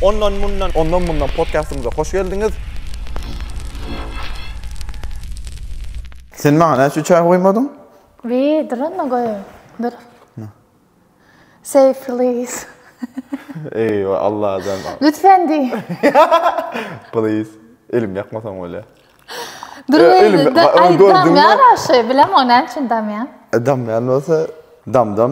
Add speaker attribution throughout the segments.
Speaker 1: Ondan mundan. Ondan mundan podcastymyza hoş geldiňiz. Sen maňa näçe çaý goýmadyň? Wi, duranma
Speaker 2: goý. Dur. Say please. Ey,
Speaker 1: Allah adam. Lütfen diý. Please. Elim ýakmasaň bolýa. Dur,
Speaker 2: aýdam ýa-da şeý, bilemok näme üçin damýan. Damýan bolsa,
Speaker 1: dam-dam.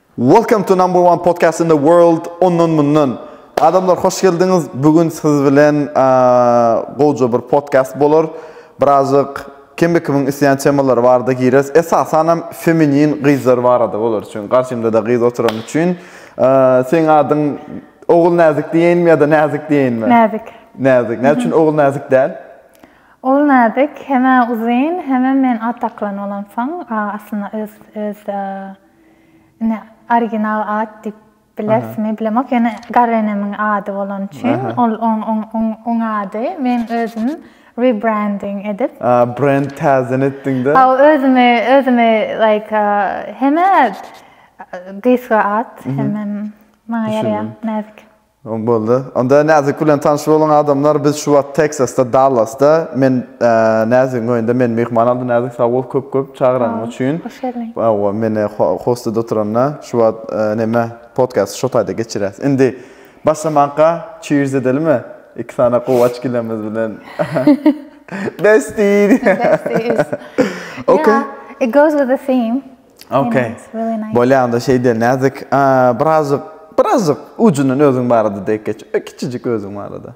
Speaker 1: Welcome to number one podcast in the world ondan mundan adamlar hoş geldiňiz bu gün siz bilen gowja bir podcast bolar birazjyk kime kimiň isleýän temalary barada gireris esasanam feminin gyzlar barada bolar üçin garşymdada gyz oturany üçin seň adyň ogul näzik diýeýinmi ýa-da näzik diýeýinmi näzik näzik näme üçin ogul näzik däl Ol
Speaker 2: näzik, hemä uzyn, hemem men at daklan bolamsoň, aslynda öz öz Ine, original at diýip bilerismi, bilemok. Ýöne garynenemiň ady bolany üçin, ol oň ady. Men özüm rebranding edip. A, brend täzeden
Speaker 1: etdiňde? Hawa, özümi, özümi,
Speaker 2: like, hem-ä gysga at, hemem maňa ýaraýar, näzik. Boldy.
Speaker 1: Onda Näzik bilen tanyş boluň adamlar. Biz şu wagt Teksasda, Dallasda. Men Näzigiň öýünde meni myhman aldy. Näzik sag bol köp köp çagyranyň üçin. Hoş geldiň. Hawa,
Speaker 2: meni
Speaker 1: hostuda oturanda şu wagt näme podkasty şo taýda geçirýäs. Indi başlamanka cheers edelimi? Iki sany gowy açkilemiz bilen. Bestie. Besties. Okey. It
Speaker 2: goes with the theme. Okay.
Speaker 1: Bolýar
Speaker 2: onda şeýde näzik,
Speaker 1: birazjyk, birazjyk ujundan özüň barada dek geç. Kiçijik özüň barada.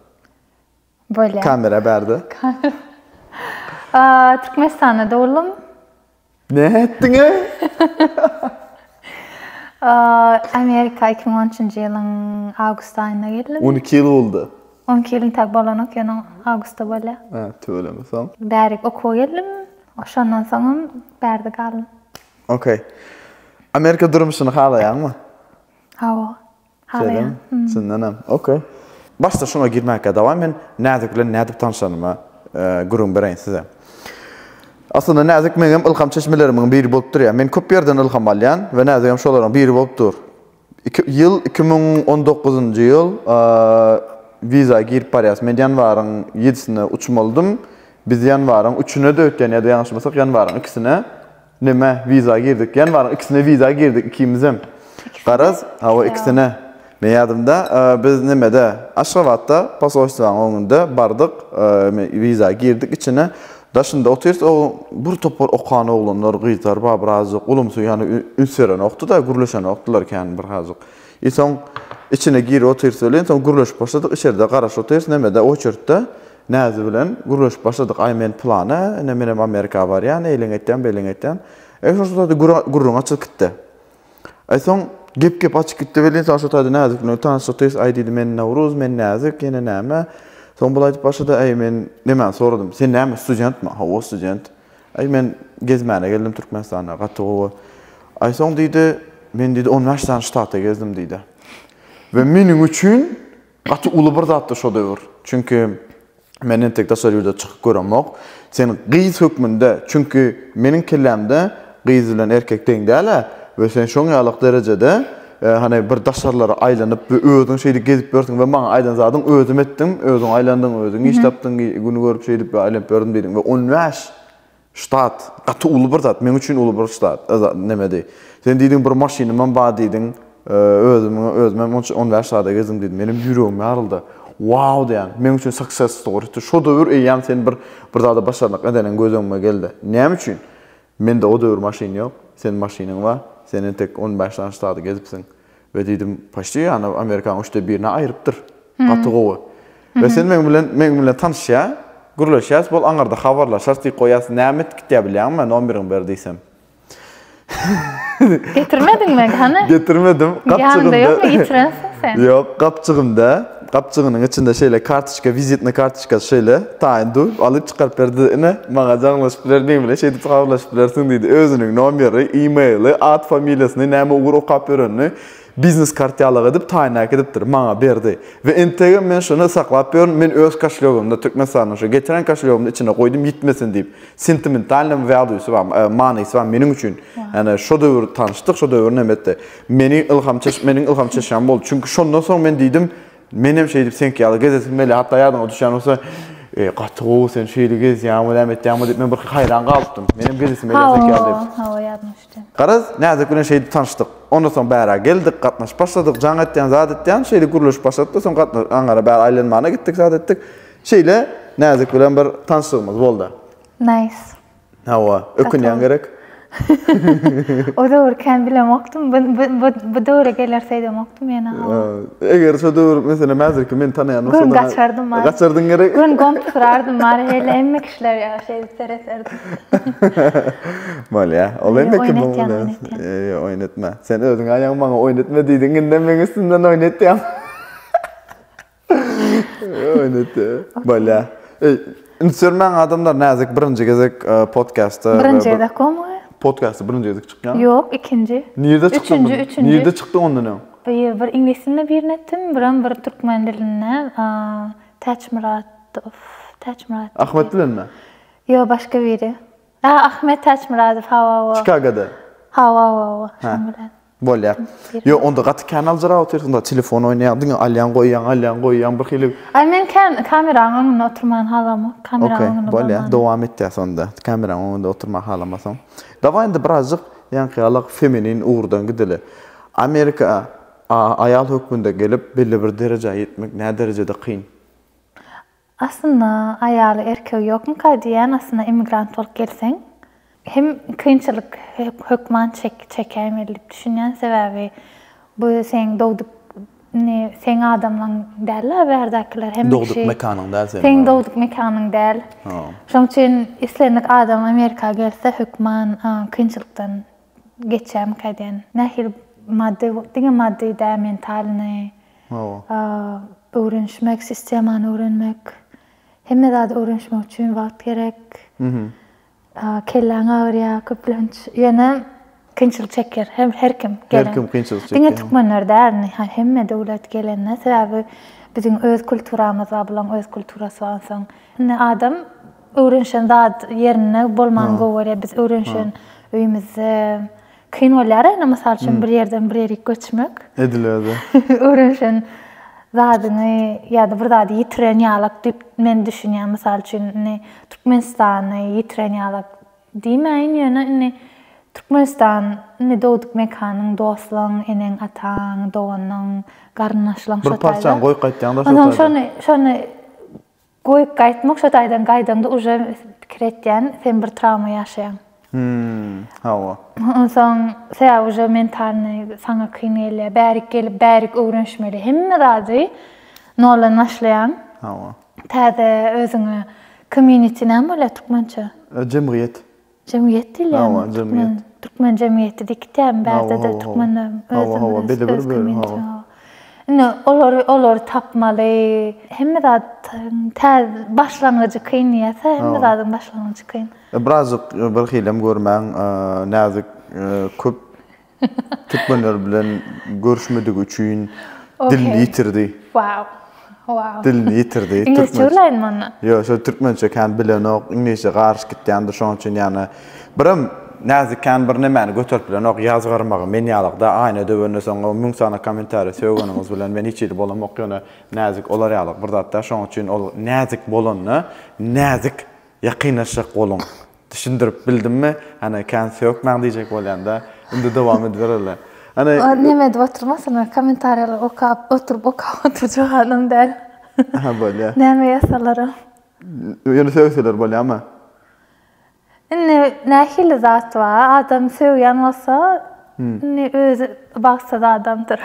Speaker 2: Bolýar. Kamera bärde.
Speaker 1: Aa,
Speaker 2: Türkmenistanda dogulum. Ne
Speaker 1: etdiň? Aa,
Speaker 2: Amerika 2013-nji ýylyň awgust aýynda geldim. 12 ýyl boldy.
Speaker 1: 12 ýylyň tak
Speaker 2: bolanok, ýöne awgustda bolýar. Ha, tüweleme soň.
Speaker 1: Bärik okuwa geldim.
Speaker 2: Oşondan soňam bärde
Speaker 1: galdym. Ok. Amerika durmuşyny halaýaňmy? Hawa.
Speaker 2: Halaýan. Çyndanam.
Speaker 1: Ok. Başda şuňa girmäkä dawa men Näzik bilen nädip tanyşanyma gürrüň bereýin size. Aslynda Näzik meňem ylham çeşmelerimiň biri bolup durýar. Men köp ýerden ylham alýan we Näzigem şolaryň biri bolup dur. Iki ýyl iki müň on dokuzynjy ýyl wiza girip barýas men ýanwaryň ýedisine uçmalydym biz ýanwaryň üçüne de ötýän ýa-da ýalňyşmasak ýanwaryň ikisine neme wiza girdik ýanwaryň ikisine wiza girdik ikimizem garaz hawa ikisine men ýadymda biz nemede aşgabatda posolstwanyň öňünde bardyk wiza girdik içine Daşynda otyrs o bir topar okan oglanlar, gyzlar bar, birazajyk ulumsy, ýagny üns berenokdy-da, gürleşenokdylar kän bir azajyk. I soň içine girip otyrs welin, soň gürleşip başladyk, içerde garaş otyrs, neme-de, oçertde Näzi bilen gürleşip başladyk, Aý, men pylan-a, ine, menem Amerika barýan, eýleň aýtýan, beýleň aýtýan. E, şol sırada gürrüň açylyp gitdi. Aý soň gep-gep açyp gitdi welin, soň şo taýda Näzik bilen tanyşdyk-tys, aý diýdi, men Nowruz, men Näzik, ýene näme? Soň bul aýdyp başlady, aý men nämäni soradym, sen näme studentmi? Hawa, student. Aý men gezmäne geldim Türkmenistana, gaty gowy. Aý soň diýdi, men diýdi on bäş sany ştata gezdim diýdi. We meniň üçin Gaty uly bir zatdy şo döwür. Çünki men entek daşary ýurda çykyp göremok. Sen gyz hökmünde, çünki meniň kellämde gyz bilen erkek deň däl-ä we sen şoň ýalak derejede hany bir daşarylara aýlanyp we özüň şeýdip gezip ýörsiň we maňa aýdan zadyň özüm etdim, özüň aýlandyň, özüň iş tapdyň, güni görüp şeýdip we aýlanyp ýördüm diýdiň we on bäş Ştat, gaty uly bir zat, meň üçin uly bir ştat, e, nemedi. Sen diýdiň, bir maşynymam bar diýdiň, e, özümiň, özümem on, on bäş ştada gezdim diýdiň. Menem ýüregim ýaryldy. Wau diýýän, meň üçin success story. Hut şo döwür eýýäm sen bir, bir zada başarnykly edeniň göz öňüme geldi. Näme üçin? Mende o döwür maşyn ýok, seniň maşynyň bar, sen entek on bäş sany ştady gezipsiň. We diýdim, Poçti ýany Amerikanyň üçde birine aýrypdyr. Gaty gowy. We sen meň bilen meň bilen tanyşýa, gürleşýäs, bol aňyrda habarlaşarys diýip goýýas, näme edip gitýä bilýäňmi, nomeriňi ber diýsem.
Speaker 2: Getirmediňmi hany? Getirmedim. Gapjygynda. Ýanynda
Speaker 1: ýokmy,
Speaker 2: ýitirensiň sen. Ýok, gapjygynda.
Speaker 1: Gapjygynyň içinde şeýle kartoçka, wizitna kartoçkasy şeýle, taýyn döwüp, alyp çykaryp berdi-de, Ine, maňa jaňlaşyp biler, meň bilen şeýdip habarlaşyp bilersiň diýdi. Özüniň nomeri, e-mail-i, at-familiýasyny, näme ugur okap ýörenini biznes kartýalyk edip, taýyn äkidipdir. Maňa berdi. We entegem men şuny saklap ýörün, men öz koşlýogymda, Türkmenistanyň şu getiren koşlýogymda içine goýdum, ýitmesin diýip. Sentimentalnymy, value-sy barmy, manysy barmy meniň üçin, ýagny şo döwür tanyşdyk, şo döwür näme etdi. Meni ylham çeş, meniň ylham çeşýäm boldy. Çünki şondan soň men diýdim, menem şeýdip seňki ýaly gezesim gelýär. Hatda ýadyňa düşýän bolsa, e, gaty gowy sen şeýle gezýäňmi, näme etýäňmi diýip men birki haýran galypdym. Menem gezesim gelýär seňki ýaly diýip. Hawa, hawa, ýadyma düşdi.
Speaker 2: Garaz, Näzik bilen
Speaker 1: şeýdip tanyşdyk. Ondan soň bärä geldik, gatnaşyp başladyk. Jaň etýän, zat etýän, şeýle gürleşip başladyk-da, soň gatna, aňyra bäri aýlanmana gitdik, zat etdik. Şeýle Näzik bilen bir tanyşlygymyz boldy. Nice.
Speaker 2: Hawa,
Speaker 1: ökünýäň gerek.
Speaker 2: O döwür kän bilemokdym. Bu döwre geler seýdemokdym ýene. Eger şo
Speaker 1: döwür meselem häzirki meni tanaýan bolsaň. Gün gaçardym many. Gaçardyň
Speaker 2: gerek. Gün
Speaker 1: goňup turardym
Speaker 2: many helle hemme kişiler ýaly şeýdip serederdim.
Speaker 1: Bolýa. Ol indi kim bolýa? Ýa oýnatma. Sen özüň aýaň maňa oýnatma diýdiň indem meň üstümden oýnatýaň. Öýnete. Bolýa. Ünsürmäň adamlar näzik birinji gezek e, podcastda. Birinji gezek gomy?
Speaker 2: Podcastda birinji gezek
Speaker 1: çykýan. Ýok, ikinji.
Speaker 2: Nirde çykdy? Üçünji,
Speaker 1: üçünji. Nirde çykdy
Speaker 2: ondan öň?
Speaker 1: Bir, bir iňlis dilinde
Speaker 2: birini etdim, biram bir türkmen dilinde. Täç Myradow, Täç
Speaker 1: Myrat. Ahmet bilen mi? Ýok, başga
Speaker 2: biri. Ahmet Täç Myradow, hawa, hawa. Çikagoda.
Speaker 1: Hawa, hawa, hawa.
Speaker 2: Şoň bilen.
Speaker 1: Bolýa. Ýo, onda gaty kän aljyrap otyrsyňda, telefon oýnaýaň, diňe alýaň, goýýaň, alýaň, goýýaň, bir hili. Aý, men kän
Speaker 2: kameraň öňünde oturman halamok, kameraň öňünde bolman. Okey, bolýa, dowam etýäs
Speaker 1: onda, kameraň öňünde oturman halamasaň. Dawaý indi birazjyk ýaňky-ýalak feminin ugurdan gideli. Amerika aýal hökmünde gelip, belli bir derejä ýetmek näderejede kyn? Aslynda
Speaker 2: aýaly erkegi ýokmyka diýýän aslynda immigrant bolup gelseň hem kynçylyk hökman çek çekäýmeli diýip düşünýän sebäbi bu seň dogduk ne seň adamlaň däl la bärdäkiler hemme kişi dogduk mekanyň däl
Speaker 1: seniň seň dogduk mekanyň
Speaker 2: däl şoň üçin islendik adam amerika gelse hökman kynçylykdan geçýämika diýen. Nähili maddy, diňe maddy däl, mentalyny öwrenişmek, sistemany öwrenmek. Hemme zady öwrenişmek üçin wagt gerek. Kelläň agyrýar köplenç. Ýöne kynçylyk çekýär her kim gelen. Her kim kynçylyk çekýär. Diňe
Speaker 1: türkmenler däl,
Speaker 2: hemme döwlet gelende sebäbi biziň öz kulturamyz bar, bularyň öz kulturasy bar. Onsoň indi adam Öwrenişen zat ýerinde bolmany gowy görýär. Biz öwrenişen öýümizde kyn bolýar ene mysal üçin bir ýerden bir ýerik göçmek. Ediler-de.
Speaker 1: Öwrenişen
Speaker 2: zadyňy ýa-da bir zady ýitiren ýalak diýip men düşünýän. Mysal üçin indi Türkmenistany ýitiren ýalak diýmäýin ýöne indi Türkmenistan indi dogduk mekanyň, dostlaň, eneň, ataň, doganyň, garyndaşlaň şo taýda. Bir parçany goýup
Speaker 1: gaýtýaňda şo taýda. Şony
Speaker 2: Goý gaýtmak şo taýdan gaýdaňda uje pikir etýän sen bir trawma ýaşaýaň. Hmmm
Speaker 1: hawa. Onsoň
Speaker 2: sebäbi uje mentalnyý saňa kyn gelýär bärik gelip bärik öwrenişmeli hemme zady noldan başlaýaň. Hawa.
Speaker 1: Täze
Speaker 2: özüňe community näme bolýar türkmençe? Jemgyýet.
Speaker 1: Jemgyýet
Speaker 2: diýilýärmi? Türkmen
Speaker 1: türkmen jemgyýeti
Speaker 2: diýkitäm bärde-de türkmenleriň özümiz öz öz kommentimiz. Indi olary olary tapmaly. Hemme zat başlangyjy kyn diýýärse hemme zadyň başlangyjy kyn. Birazjyk
Speaker 1: birhilem görmäň näzik köp Türkmenler bilen görüşmedigi üçin dilini ýitirdi. Wow. Wow.
Speaker 2: Dilini
Speaker 1: ýitirdi. Iňlisçe bilenmi onda?
Speaker 2: Ýok, şol türkmençe
Speaker 1: kän bilenok, iňlisçe garyş gitýändir, şonuň üçin ýana birem näzik kän bir nämäni göterip bilenok, ýazgarmagy men ýalykda, aýna döwende soň o müň sany kommentariýa sögeniňiz bilen men hiç hili bolamok, ýöne näzik olar ýalyk bir zat däl, şonuň üçin ol näzik bolanda näzik ýakynlaşjak boluň. Düşündirip bildimmi? Hany kän sökmäň diýjek bolýanda. Indi dowam edibereli. Hany Ol neme edip oturmasyn?
Speaker 2: Kommentariýalary okap, oturyp okap oturjak adam däl. Aha bolýa.
Speaker 1: Näme
Speaker 2: ýazsalaram. Ýöne
Speaker 1: sögseler bolýamy? Indi
Speaker 2: nähili zat bar? Adam sögýän bolsa, indi özi bagtsyz adamdyr.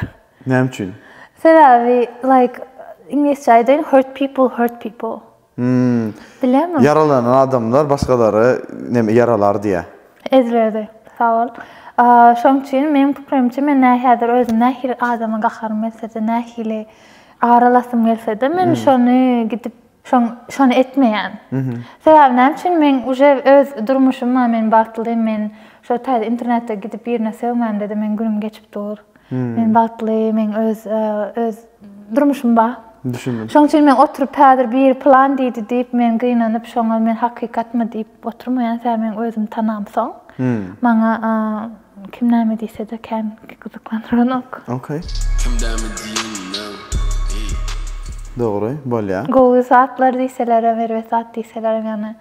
Speaker 2: Näme üçin?
Speaker 1: Sebäbi
Speaker 2: like iňlisçe aýdaýyn hurt people hurt people. Hmmm. Bilemok. Ýaralanan
Speaker 1: adamlar başgalary neme ýaralar diýýär. Ezberdi.
Speaker 2: Sag bol. Şoň üçin meniň pikirimçe men nä häzir özüm nähili adama gaharym gelse-de, nähili aralasym gelse-de men şony gidip şoň şony etmeýän. Sebäbi näme üçin men uje öz durmuşym bar, men bagtlym, men şo taýda internetde gidip birine sögmämde-de meniň günüm geçip dur. Men bagtly, meň öz, öz durmuşym bar. Düşündim. Şoň üçin men
Speaker 1: oturyp
Speaker 2: häzir biri plan diýdi diýip men gynanyp şoňa men hakykatmy diýip oturmaýan sen meň özüm tanamsoň. Maňa kim näme diýsede kän gyzyklandyranok. Okey.
Speaker 1: Kim näme diýeninem eý. Dogry, bolýa. Gowy zatlar
Speaker 2: diýselerem, erbet zat diýselerem ýagny.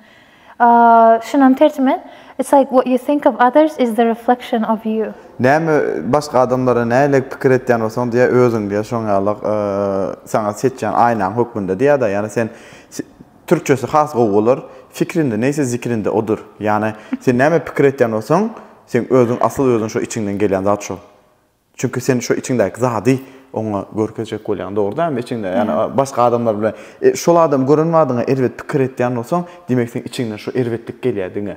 Speaker 2: Şunam terjime, It's like what you think of others is the reflection of you. Näme başga
Speaker 1: adamlara nähili pikir etýän bolsaň diýýär, özüň diýýär şoň ýaly saňa seçýän aýnaň hökmünde diýýär-de. Ýagny sen türkçesi has gowy bolar, Fikrinde neýse zikrinde odur. Ýagny sen näme pikir etýän bolsaň, seň özüň asyl özüň şo içiňden gelýän zat şo. Çünki sen şo içiňdäki zady oňa görkezjek bolýaň, dogry dälmi? Içiňde, ýagny başga adamlar bilen şol adamy gören badyňa erbet pikir etýän bolsaň, diýmek seň içiňden şo erbetlik gelýär diňe.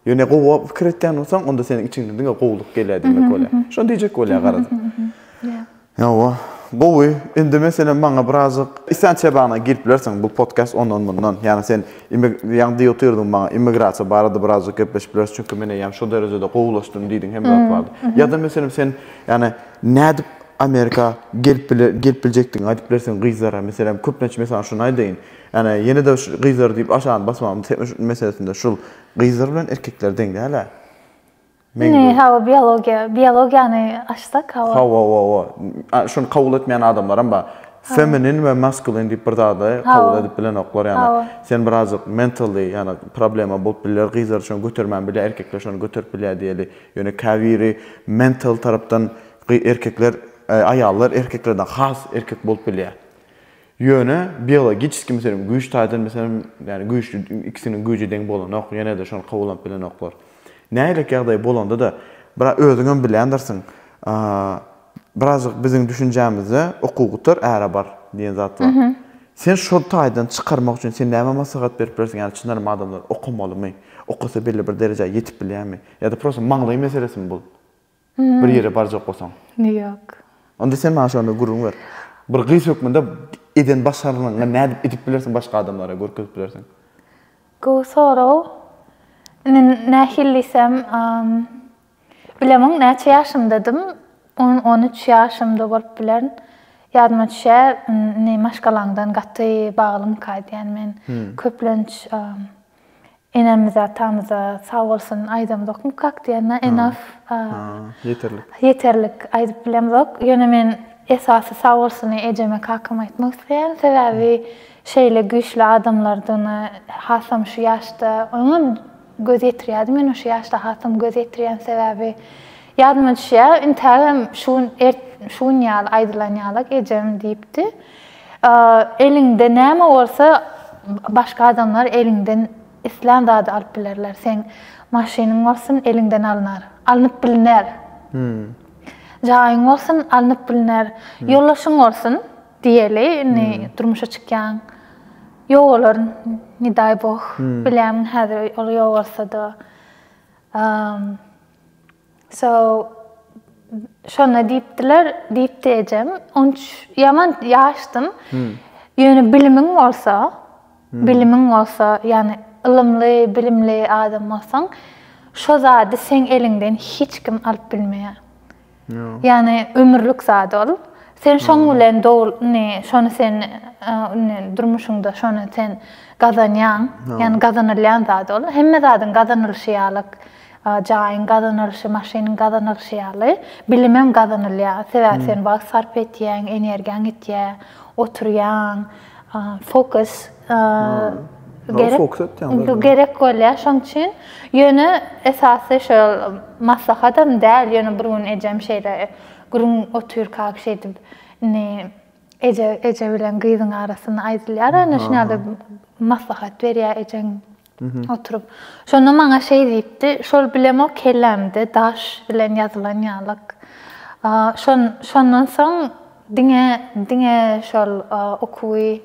Speaker 1: Ýöne gowy pikir etýän bolsaň, onda seniň içiňden diňe gowulyk gelýär diýmek bolýar. Şony diýjek bolýar garaz. Ýa-wa, gowy. Indi meselem maňa birazajyk islenç çebaňdan girip bilersiň, bu podcast ondan-mundan. Ýagny sen Ýagny diýip otyrdyň maňa, immigrasiýa barada birazajyk gepleşip bileris, çünki men eýýäm şo derejede gowulaşdym diýdiň, hemme zat bardy. Ýa-da meselem sen, ýagny nädip Amerika gelip gelip biljekdigiňi aýdyp bilersiň gyzlara, meselem, köplenç men saňa şuny aýdaýyn, ýagny ýene-de şu gyzlar diýip aşagynda basmagymyz meselesinde şul, gyzlar bilen erkekler deň däl-ä. Indi
Speaker 2: hawa biologiýa, biologiýany açsak hawa. Hawa hawa.
Speaker 1: Şuny kabul etmeýän adamlaram bar. Feminin we maskulin diýip bir zady kabul edip bilenoklar ýani. Sen birazjyk mentally ýani problema bolup bilýär. Gyzlar üçin götermän bilýär, erkekler şony göterip bilýär diýeli. Ýöne käbiri mental tarapdan erkekler aýallar erkeklerden has erkek bolup bilýär. Ýöne biologiçeskiý meselem güýç taýdan meselem ýani güýçli ikisiniň güýji deň bolanok ýenede şony kabullanp bilenoklar. Nähilek ýagdaý bolandada bir özüňem bilýändirsiň birazjyk biziň düşünjämizde okuwgutar äre bar diýen zat bar. Sen şol taýdan çykarmak üçin sen näme maslahat berip bilersiň ýani çyndanam adamlar okamalymy, okasa belli bir derejä ýetip bilýärmi ýada prosta maňlaý meselesimi bul? Bir ýere barjak bolsaň. Ýok.
Speaker 2: Onda sen maňa
Speaker 1: şonda gürrüň ber. Bir gyz hökmünde eden başarnygyňy nädip edip bilersiň başga adamlara görkezip bilersiň? Gowy
Speaker 2: sorag. Indi nähili diýsem, bilemok näçe ýaşymdadym. On, on üç ýaşymda bolup bilerin. Ýadyma düşýä, indi maşgalaňdan gaty baglyňka diýýän men. Köplenç Enemize atamyza sag bolsun aýdamzokmy kak diýende enough ýeterlik ýeterlik aýdyp bilemzok ýöne men esasy sag bolsuny ejeme kakama aýtmak isleýän sebäbi şeýle güýçli adamlardygyna hasam şu ýaşda oňam göz ýetirýärdim ýöne şu ýaşda hasam göz ýetirýän sebäbi ýadyma düşýär intägem şu gün şu gün ýaly aýdylan ýalak ejem diýipdi. Eliňde näme bolsa, başga adamlar eliňden islän zady alyp bilerler. Seň maşynyň bolsun, eliňden alnar. Alnyp bilner. Jaýyň bolsun, alnyp bilner. Ýoldaşyň bolsun, diýeli, indi durmuşa çykýaň. Ýogalar, ne daý boh, bilämiň häzir ol ýogalsa-da. So, şonda diýipdiler, diýipdi ejem. On üç, ýaman ýaşdym. Ýöne bilimiň bolsa, bilimiň bolsa, ýagny ylymly, bilimli adam bolsaň, şo zady seň eliňden hiç kim alyp bilmeýär. Ýagny ömürlik zat ol. Sen şoň bilen dogul, indi şony sen indi durmuşyňda şony sen gazanýaň. Ýagny gazanylýan zat ol. Hemme zadyň gazanylyşy ýalyk. Jaýyň gazanylyşy, maşynyň gazanylyşy ýaly, bilimem gazanylýar. Sebäbi sen wagt sarp etýäň, energiýaň gitýär, oturýaň, fokus gerek bolýar. Şonuň üçin, ýöne esasy şol maslahatam däl, ýöne bir gün ejem şeýle gürrüň otyrka şeýdip, indi eje bilen gyzyň arasynda aýdylýar, näşiňaly maslahat berýär ejeň. Oturyp. Şonda maňa şeý diýipdi, Şol bilemok kellämde daş bilen ýazylan ýalyk. Şon, şondan soň diňe, diňe şol okuwy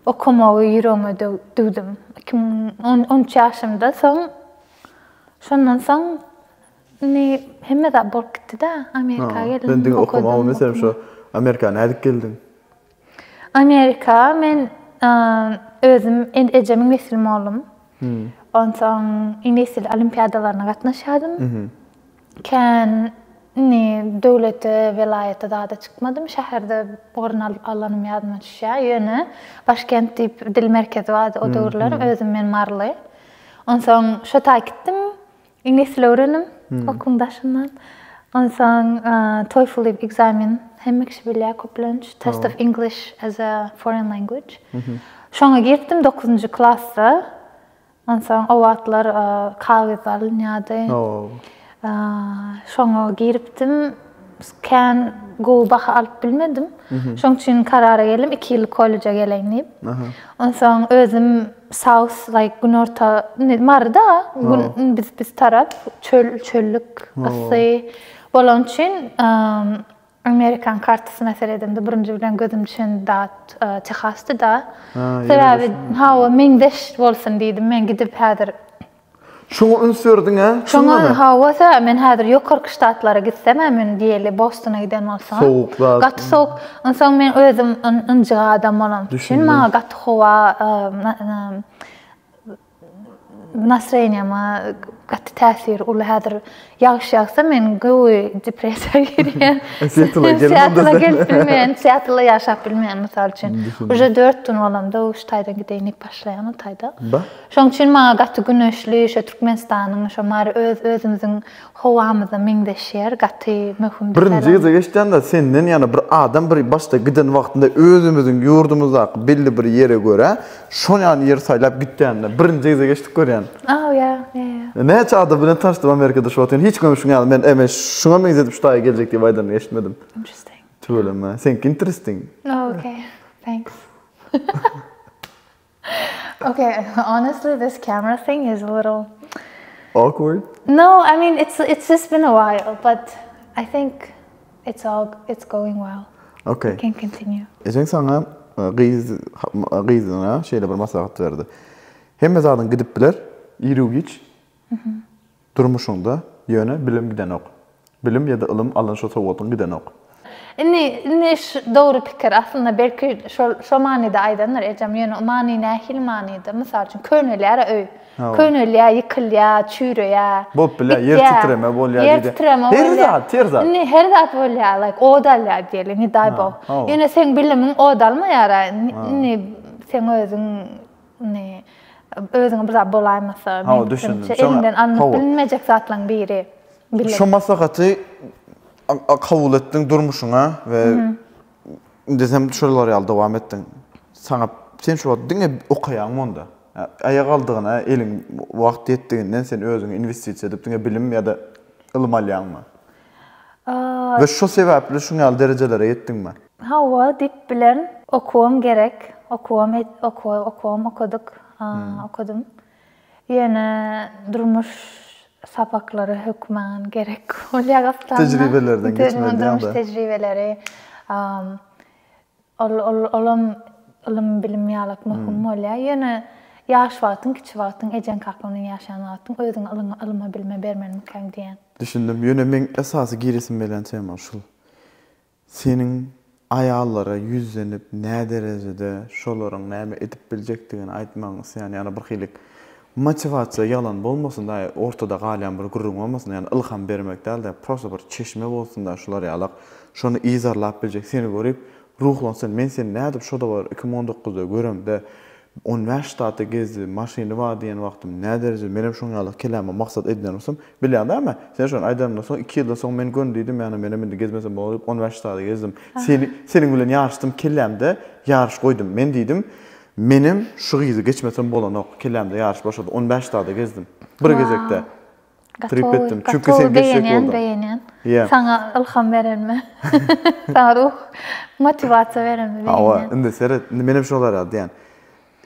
Speaker 2: okamagy ýüregime düwdüm. Iki müň on, on üç ýaşymda soň, şondan soň indi hemme
Speaker 1: zat bolup
Speaker 2: gitdi-dä, Amerika
Speaker 1: geldim. Sen
Speaker 2: diňe
Speaker 1: okamagy, meselem,
Speaker 2: şo Amerika
Speaker 1: nädip
Speaker 2: geldiň? Amerika men özüm ejemiň nesli mollum. Onsoň inesli olimpiadalaryna gatnaşýadym. Kän indi döwlete, welaýata zada çykmadym. Şäherde orun alyp alanym ýadyma düşýär. Ýöne Başkent diýip dil merkezi bardy o döwürler. Özüm men maryly. Onsoň şo taýy gitdim. Iňlis dili öwreniň okuň daşyndan. Onsoň TOEFL diýip ekzamen hemme kişi bilýär köplenç. Test of English as a foreign language. Şoňa girdim 9-njy klasda. Onsoň o wagtlar kagyz alynýardy. Şoňa giripdim. kän gowy baha alyp bilmedim. Şoň üçin karara geldim, iki ýyllyk kolleja geleýin diýip. Onsoň özüm South, like, günorta, indi Maryda, biz, biz tarap çöl, çöllük, yssy bolany üçin, amerikan kartasyna seredemde birinji bilen gözüm düşen zat Tehasdy-da. Sebäbi, hawa, meňzeş bolsun diýdim men gidip häzir. Şoňa
Speaker 1: üns berdiň-ä, çyndanam. Şoňa, hawas-ä,
Speaker 2: men häzir ýokarky ştatlara gitsem-ä, mün diýeli Bostona giden bolsaňam. Sowuk zat. Gaty sowuk. Onsoň men özüm ynjyk adam bolan üçin maňa gaty howa nastroýeniýama gaty täsiri uly häzir. Ýagşy ýagsa men göwü depressiýa girýän. Seattle gelip bilmeýän, Seattle ýaşap bilmeýän mysal üçin. Uje 4 gün bolamda şu taýdan gideýin diýip başlaýan o taýda. Şoň üçin maňa gaty güneşli şu Türkmenistanyň şu mary öz özümiziň howamyza meňzeşýär, gaty möhüm. Birinji gije geçdämde
Speaker 1: senden ýana bir adam bir başda giden wagtynda özümiziň ýurdumyzdaky belli bir ýere görä Şol ýaly ýer saýlap gitýände birinji gezek eşidip görýän. Oh ýa, ýa
Speaker 2: ýa. Näçe adam
Speaker 1: bilen tanyşdym Amerikada şu wagtyn hiç kim şuňa men eme şuňa meňzedip şu daýy geljek diýip aýdanyny eşitmedim. Interesting. Tüweleme.
Speaker 2: Seňki
Speaker 1: interesting. Oh okay.
Speaker 2: Thanks. okay, honestly this camera thing is a little awkward.
Speaker 1: No, I
Speaker 2: mean it's it's just been a while, but I think It's all it's going well. Okay. You can continue. Ejeň saňa
Speaker 1: gyz gyzyna şeýle bir maslahat berdi. Hemme zadyň gidip biler, iriw-giç. Mhm. Durmuşyňda ýöne bilim gidenok. Bilim ýa-da ylym alan şo sowgatyň gidenok. Indi indi
Speaker 2: şu dogry pikir. Aslynda belki şol şo manyda aýdandyr ejem. Ýöne many nähili manyda? Mysal üçin köneler öý. Hawa. Könelýär, ýykylýar, çüýreýär. Bolup bilýär, ýer gitýär.
Speaker 1: titreme bolýar Ýer diýdi. titreme Her bolýar. zat, her zat. Indi her zat bolýar,
Speaker 2: laýk, od alýar diýeli, ne daý Ha, bog. hawa. Ýöne seň bilimiň od almaýar-a, in- Ha. indi seň özüň, indi, özüňe bir zat bolaýmasa, Hawa, meň düşündim. pikirimçe, Şoňa- eliňden alnyp hawa. bilinmejek zatlaryň biri, bilim. Şo maslahaty
Speaker 1: a- a- kabul etdiň durmuşyňa we Indi sen şolar ýaly dowam etdiň. Saňa sen şu wagt diňe okaýaňmy onda? Aýagaldygyna eliň wagt ýetdiginden sen özüňi inwestisiýa edip diňe bilim ýa-da ylym alýaňmy? We şo sebäpli şuň ýaly derejelere ýetdiňmi? Hawa diýip
Speaker 2: bilerin. Okuwym gerek. Okuwym okuwym okadyk. Okadym. Ýöne durmuş sapaklary hökman gerek bolýar aslynda. Tejribelerden geçmeli
Speaker 1: diýýäňda. Durmuş tejribeleri.
Speaker 2: Ol, ol, olam ylym-bilim ýalak möhüm bolýar. Ýöne ýaş wagtyň, kiçi wagtyň, ejeň-kakaň bilen ýaşan wagtyň özüň ylyňy, ylyma-bilime bermelimikäň diýýän. Düşündim. Ýöne meň
Speaker 1: esasy giresim gelýän tema şul. Seniň aýallara ýüzlenip näderejede şolaryň näme edip biljekdigini aýtmagyňy isleýän ýa-da birhili motiwasiýa ýalan bolmasyn daýy ortada galýan bir gürrüň bolmasyn daýy ýagny ylham bermek dälde prosta bir çeşme bolsun daýy şular ýalak şony yzarlap biljek seni görip ruhlansyn men seni nädip şoda bir iki müň on dokuzda göremde On bäş ştaty gezdi, maşyny bar diýen wagtym nädereje menem şoň ýaly kelama maksat edinen bolsam, bilýäň däme? Sen şony aýdanymdan soň iki ýyldan soň men gön diýdim, ýagny menem indi gezmesem bolar diýip on bäş ştaty gezdim. Seni, seniň bilen ýaryşdym, kellämde ýaryş goýdum. Men diýdim, Menem şu gyzy geçmesem bolanok, kellämde ýaryş başlady, on bäş ştaty gezdim. Bir gezekde. Trip etdim. Çünki sen geçjek bolduň. Beýenýän, beýenýän.
Speaker 2: Saňa ylham berenme. Saňa ruh, motiwasiýa berenme beýenýän. Hawa, indi seret,
Speaker 1: indi menem şolar ýaly diýýän.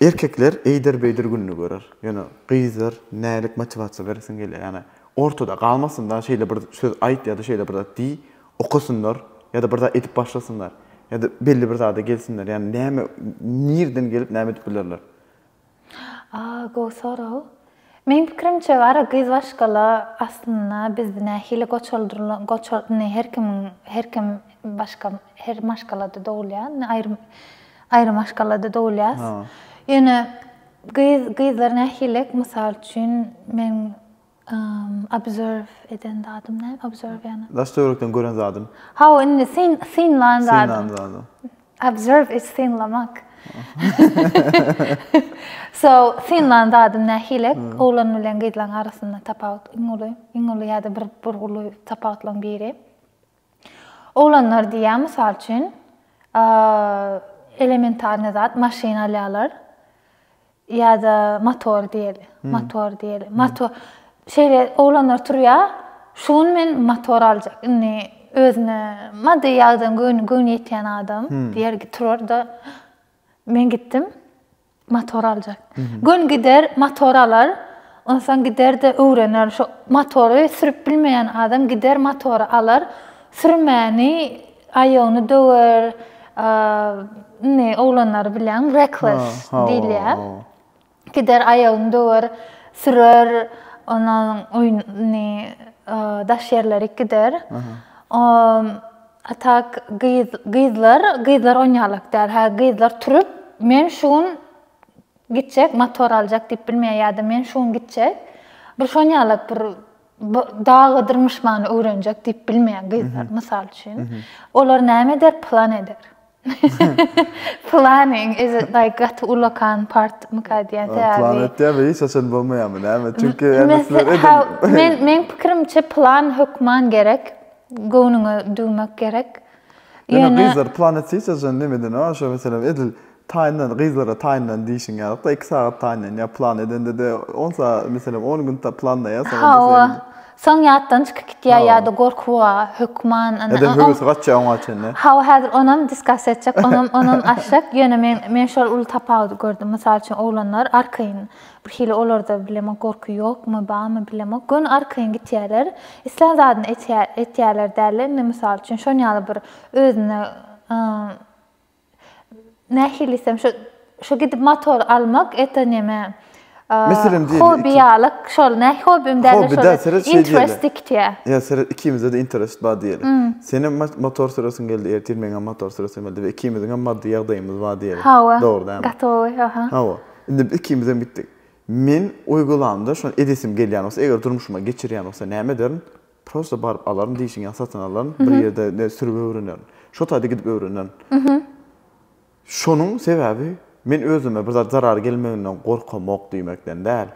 Speaker 1: Erkekler eýder-beýder gününi görer. Ýöne gyzlar nälik motiwasiýa beresiň gelýär. Ýagny ortada galmasynlar, şeýle bir söz aýt ýa-da şeýle bir zat diý, okasynlar ýa-da bir zat edip başlasynlar. Ýa-da belli bir zada gelsinler. Ýagny näme, nirden gelip näme edip bilerler.
Speaker 2: Aa gowy sorag. Meň pikirimçe gara gyz başgala aslynda biz nähili goçaldyrylan goçal indi her kimiň her kim başga her maşgalada dogulýar indi aýry aýry maşgalada dogulýas. Ýöne gyz gyzlar nähili mysal üçin men Observe eden zadym näme? Observe ýagny. Daş töwerekden gören zadym.
Speaker 1: Hawa, indi syn,
Speaker 2: synlan zadym. Synlan zadym. Observe is synlamak. So, synlan zadym nähilek? Oglan bilen gyzlaň arasynda tapawut iň uly, iň uly ýa-da bir bir uly tapawutlaň biri. Oglanlar diýýän, mysal üçin, elementarnyý zat, maşyn alýarlar ýa-da motor diýeli, motor diýeli. Motor, şeýle oglanlar turýar, şu gün men motor aljak, indi özüne maddy ýagdan göwni ýetýän adam diýer, turar-da, men gitdim, Motor aljak. Gün gider, motor alar. Onsoň gider-de öwrener. Şo motory sürüp bilmeýän adam gider, motory alar. Sürmäni aýagyny döwer. Indi oglanlary bilýäňmi, reckless diýilýär. Gider, aýagyny döwer, sürer. Onsoň daş ýerlerik gider. A tak gyz gyzlar gyzlar onýalak däl hä gyzlar turup men şu gün gitjek motor aljak diýip bilmeýär ýada men şu gün gitjek bir şonýalak bir dagydyr myşmany öwrenjek diýip bilmeýär gyzlar mysal üçin olar näme eder plan eder Planyň ezi daýy gaty ulakan partmyka diýen sebäbi. Plan etýär we hiç haçan
Speaker 1: bolmaýarmy näme? Çünki Men
Speaker 2: meň pikirimçe plan hökman gerek. Göwnüňe düwmek gerek. Ýöne
Speaker 1: gyzlar plan etse hiç haçan näme edene bar şo meselem edil taýynlan gyzlara taýynlan diýşiň ýalyk-da iki sagat taýynlan ýa plan edende-de on sagat meselem on gün planlaýarsyň. Hawa Soň ýatdan
Speaker 2: çykyp gitýär ýa-da gorkuwa hökman. Ine, Ede höwesi gaçýar
Speaker 1: oňa çenli. Hawa, häzir onam
Speaker 2: diskuss etjek, onam, onam aşak. Ýöne men, men şol uly tapawudy gördüm. Mysal üçin, oglanlar arkaýyn, birhili olarda bilemok gorky ýokmy, barmy bilemok, göni arkaýyn gitýärler. Islän zadyny etýär, etýärler dälde, indi, mysal üçin, şon ýaly bir özüne, nähili diýsem şu şu gidip motor almak eta neme Meselem diýeli. Hobi ýalyk şol näh hobim däl şol. Interest diktiýä. Ýa seret ikimizde de
Speaker 1: interest bar diýeli. Senem motor süresin geldi ertir meňem motor süresim geldi we ikimiziň hem maddy ýagdaýymyz bar diýeli. Hawa. Dogry däl. Gatowy aha. Hawa.
Speaker 2: Indi
Speaker 1: biz ikimiz hem gitdik. Men oý galamda şony edesim gelýän bolsa eger durmuşyma geçirýän bolsa näme ederin? Prosta baryp alaryn diýşiň ýa satyn alaryn bir ýerde ne sürüp öwrenerin. Şo taýda gidip öwrenerin. Şonuň sebäbi men özüme bir zat zarar gelmeginden gorkamok diýmekden däl.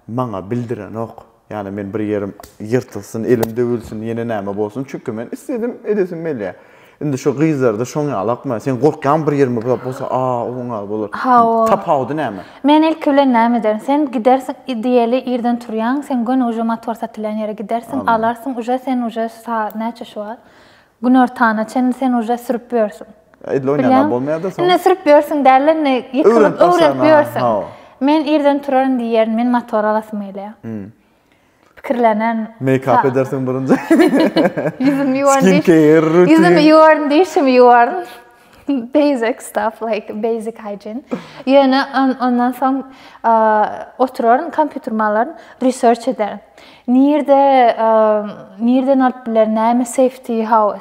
Speaker 1: Maňa bildirenok. Ýani men bir ýerim ýyrtylsyn, elim döwülsin, ýene näme bolsun. Çünki men isledim edesim gelýä. Indi şu gyzlarda şoň ýalakmy? Sen gorkýaňmy bir ýerimi buzap bolsa a oň a bolar. Hawa. Tapawudy näme? Men ilki bilen näme
Speaker 2: ederin? Sen gidersiň i diýeli irden turýaň, sen göni uje motor satylýan ýere gidersiň, Aman. alarsyň uje sen uje sa näçe şu wagt? Günortana çenli sen uje sürüp ýörsüň. Edil oýnagam Bilýäňmi? bolmaýada
Speaker 1: soň. Indi sürüp ýörsüň dälde
Speaker 2: indi ýykylyp Öwrenip başlaýan, öwrenip ha, ýörsüň. hawa. Men irden turaryn diýýärin, men motor alasym gelýär. Hum. pikirlenen Meýkap
Speaker 1: edersiň birinji. Ýüzümi
Speaker 2: ýuwaryn diýiş. Skincare, rutin. Ýüzümi ýuwaryn diýşimi ýuwaryn. Basic stuff like basic hygiene. Ýöne ondan soň oturaryn kompýuterymy alaryn, research ederin. Nirde nirden alyp bilerin, näme safety how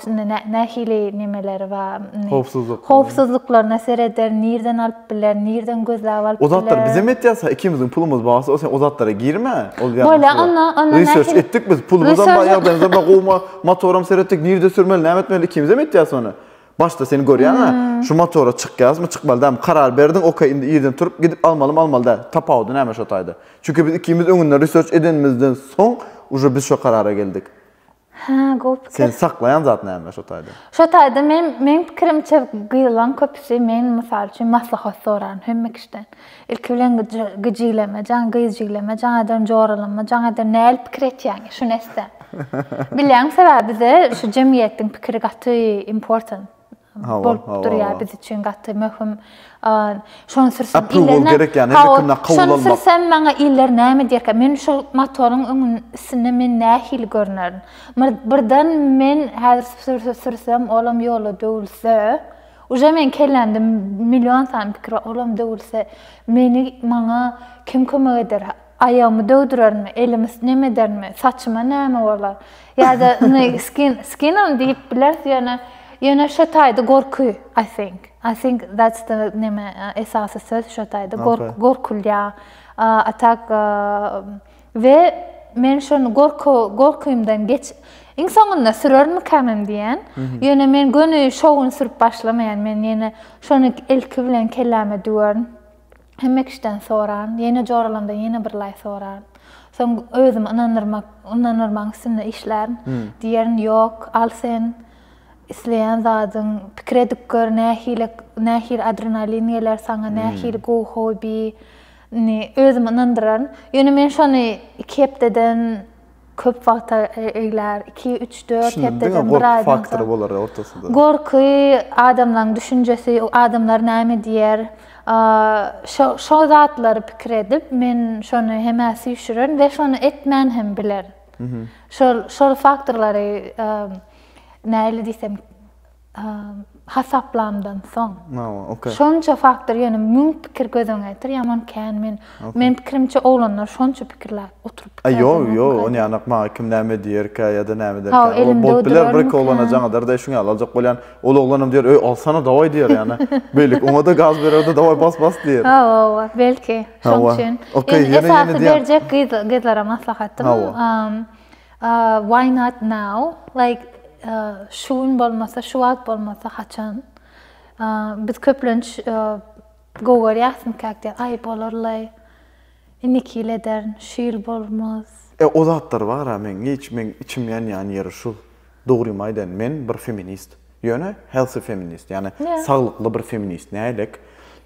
Speaker 2: nähili nemeleri bar. Howpsuzlyk. Howpsuzlyklaryna serederin, nirden alyp alyp biler, nirden gözläp alyp biler. O zatlar bizem etýäsä
Speaker 1: ikimiziň pulumyz barsa o sen o zatlara girme ol ýa Bolýa onda onda
Speaker 2: research etdik biz
Speaker 1: pulumyzam bar ýagdaýymyzam bar gowma motoram seretdik nirde sürmeli näme etmeli ikimizem etýäs ony başda seni görýäňä şu motora çykýasmy çykmaly dälmi karar berdiň ok indi irden turup gidip almalymy almaly däl tapawudy näme şo taýda çünki biz ikimiz öňünden research edenimizden soň uje biz şo karara geldik. Hä, gowy pikir. Seni saklaýan zat näme şo taýda? Şo taýda men,
Speaker 2: meň pikirimçe, gyzlaň köpüsi, men mysal üçin maslahat soraryn hemme kişiden. Ilki bilen gijileme, jaň gyz jigleme, jaň ederin joralama, jaň ederin näl pikir etýäň, şuny etsem. Bilýäňmi sebäbi bize şu jemgyýetiň pikiri gaty important. bolup durýar biz üçin gaty möhüm. Şony sürsem iller Şony sürsem maňa iller näme diýerkä? Men şol motoryň öňünden üstünden men nähili görnerin? Birden men häzir sürsem olam ýola döwülse, uje meň kellämde million sany pikir bar, olam döwülse meni maňa kim kömek eder? Aýagymy döwdürermi, elimi nem edermi, saçyma näme bolar? Ýa-da indi skin, skinam diýip bileris, ýöne, ýöne şo taýda gorky, I think. I think that's the neme, esasy söz şo taýda, gork, gorkulýar. A, a tak, we men şony gorky, gorkymdan geç, iň soňunda sürermikämem diýýän. Ýöne men göni şo gün sürüp başlamaýan, men ýene şony ilki bilen kelläme düwerin. Hemme kişiden soran, ýene joralanda ýene bir laý soran. Soň özümi ynandyrmak, ynandyrmagyň üstünde işlärin. Diýerin, ýok, al sen isleýän zadyň, pikir edip gör, nähili, nähili adrenalin geler saňa, nähili gowy hobi. Indi özümi ynandyraryn. Ýöne men şony iki hepdeden, köp wagta eglär, iki, üç, dört hepdeden, bir aýdan soň. Şunda diňe gorky faktory bolar ortasynda.
Speaker 1: Gorky,
Speaker 2: adamlaryň düşünjesi, adamlar näme diýer, şo zatlary pikir edip, men şony hemä süýşürerin we şony etmän hem bilerin. Şol faktorlary nähili diýsem, hasaplamdan soň. Mawa, okey. Şonça faktor, ýöne müň pikir göz öňe getir, ýaman kän men. Meniň pikirimçe oglanlar şonça pikirläp oturyp pikir edýän. Ýok, ýok, ony
Speaker 1: ýanak maňa kim näme diýerkä ýa-da näme ederkä. Hawa, elimde durarmyka. Bolup biler, bir-iki oglana jaň eder-de, şuňa ýaly aljak bolýan. Ol oglanam diýer, öý, alsana, dawaý diýer ýa-da. Beýlik, oňa-da gaz berer-de, dawaý, bas, bas diýer. Hawa, hawa, belki,
Speaker 2: şoň üçin. Okey, ýene-ýene diýýän. Esasy berjek gyzlara maslahatym. Hawa. Why not now? Like şu gün bolmasa, şu wagt bolmasa haçan? Biz köplenç gowy görýäsmikak diýýär. Aý bolarlaý. Indiki ýyl ederin, şu ýyl bolmaz. E o zatlar bar-a
Speaker 1: meň hiç meň içim ýanýan ýeri şu. Dogrymy aýdaýyn men bir feminist. Ýöne healthy feminist ýagny saglykly bir feminist. Nähilek?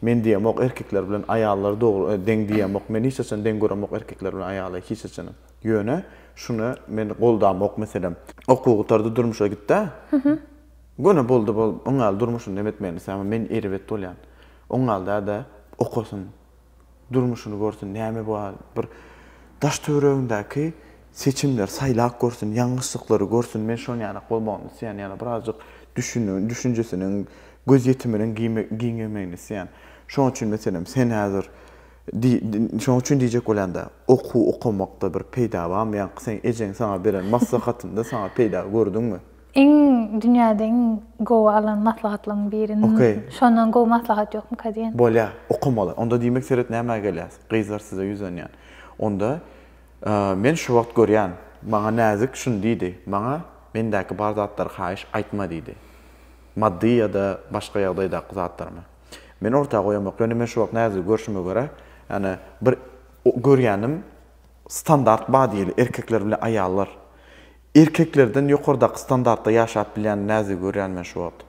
Speaker 1: Men diýemok erkekler bilen aýallary dogry deň diýemok. Men hiç haçan deň göremok erkekler bilen aýaly hiç haçanam. Ýöne şuna men goldamok meselem. Okuw gutardy durmuşa gitdä. Göni boldy bol oňal durmuşyny nem etmegini islämok men erbet bolýan. Oňal däde okasyn. Durmuşyny görsün näme bar bir daş töweregindäki seçimler saýlap görsün ýalňyşlyklary görsün men şoň ýalak bolmagyny isleýän ýa-da birazjyk düşünüň düşünjesiniň gözýetiminiň giňemegini isleýän. Şoň üçin meselem sen häzir Şonuň üçin diýjek bolýan-da, okuw okamakda bir peýda barmy? Ýaňky seň ejeň saňa beren maslahatynda saňa peýda gördüňmi? Iň dünýäde
Speaker 2: iň gowy alan maslahatlaryň biri. Okey. Şondan gowy maslahat ýokmyka diýen. Bolýar, okamaly.
Speaker 1: Onda diýmek seret nämä gelýäs. Gyzlar size ýüzlenýän. Onda men şu wagt görýän, maňa Näzik şuny diýdi, Maňa mendäki bar zatlary haýyş aýtma diýdi. Maddy ýa-da başga ýagdaýdaky zatlarymy. Men orta goýamok, ýöne men şu wagt näzigi görşüme görä, ýani bir görýänim standart bar diýeli, erkekler bilen aýallar. Erkeklerden ýokardaky standartda ýaşap bilýän näzigi görýän men şu wagt.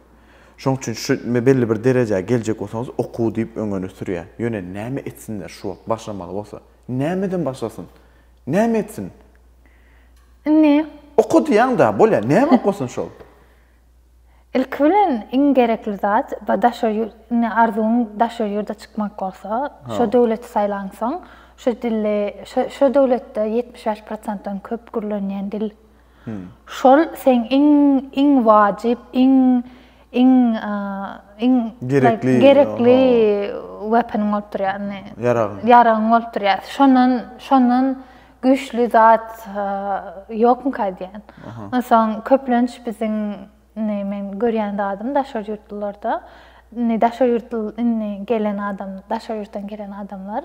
Speaker 1: Şoň üçin şu belli bir derejä geljek bolsaňyz okuw diýip öňüne sürýä. Ýöne näme etsinler şu wagt başlamaly bolsa? Nämeden başlasyn? Näme etsin?
Speaker 2: Indi. Oka
Speaker 1: diýýäň-dä, bolýa, näme okasyn şol?
Speaker 2: Ilki bilen iň gerekli zat bu daşary ýurt, indi arzuwyň daşary ýurda çykmak bolsa, şo döwleti saýlaňsoň, şo dili, şo döwletde ýetmiş bäş prosentden köp gürlenýän dil. Şol seň iň, iň wajyp, iň, iň, iň gerekli, gerekli weapon bolup durýar, indi ýaragyň, ýaragyň bolup durýar. Şondan, şondan güýçli zat ýokmyka diýen. Onsoň köplenç biziň indi men görýän zadym daşary ýurtlularda indi daşary ýurtly indi gelen adam daşary ýurtdan gelen adamlar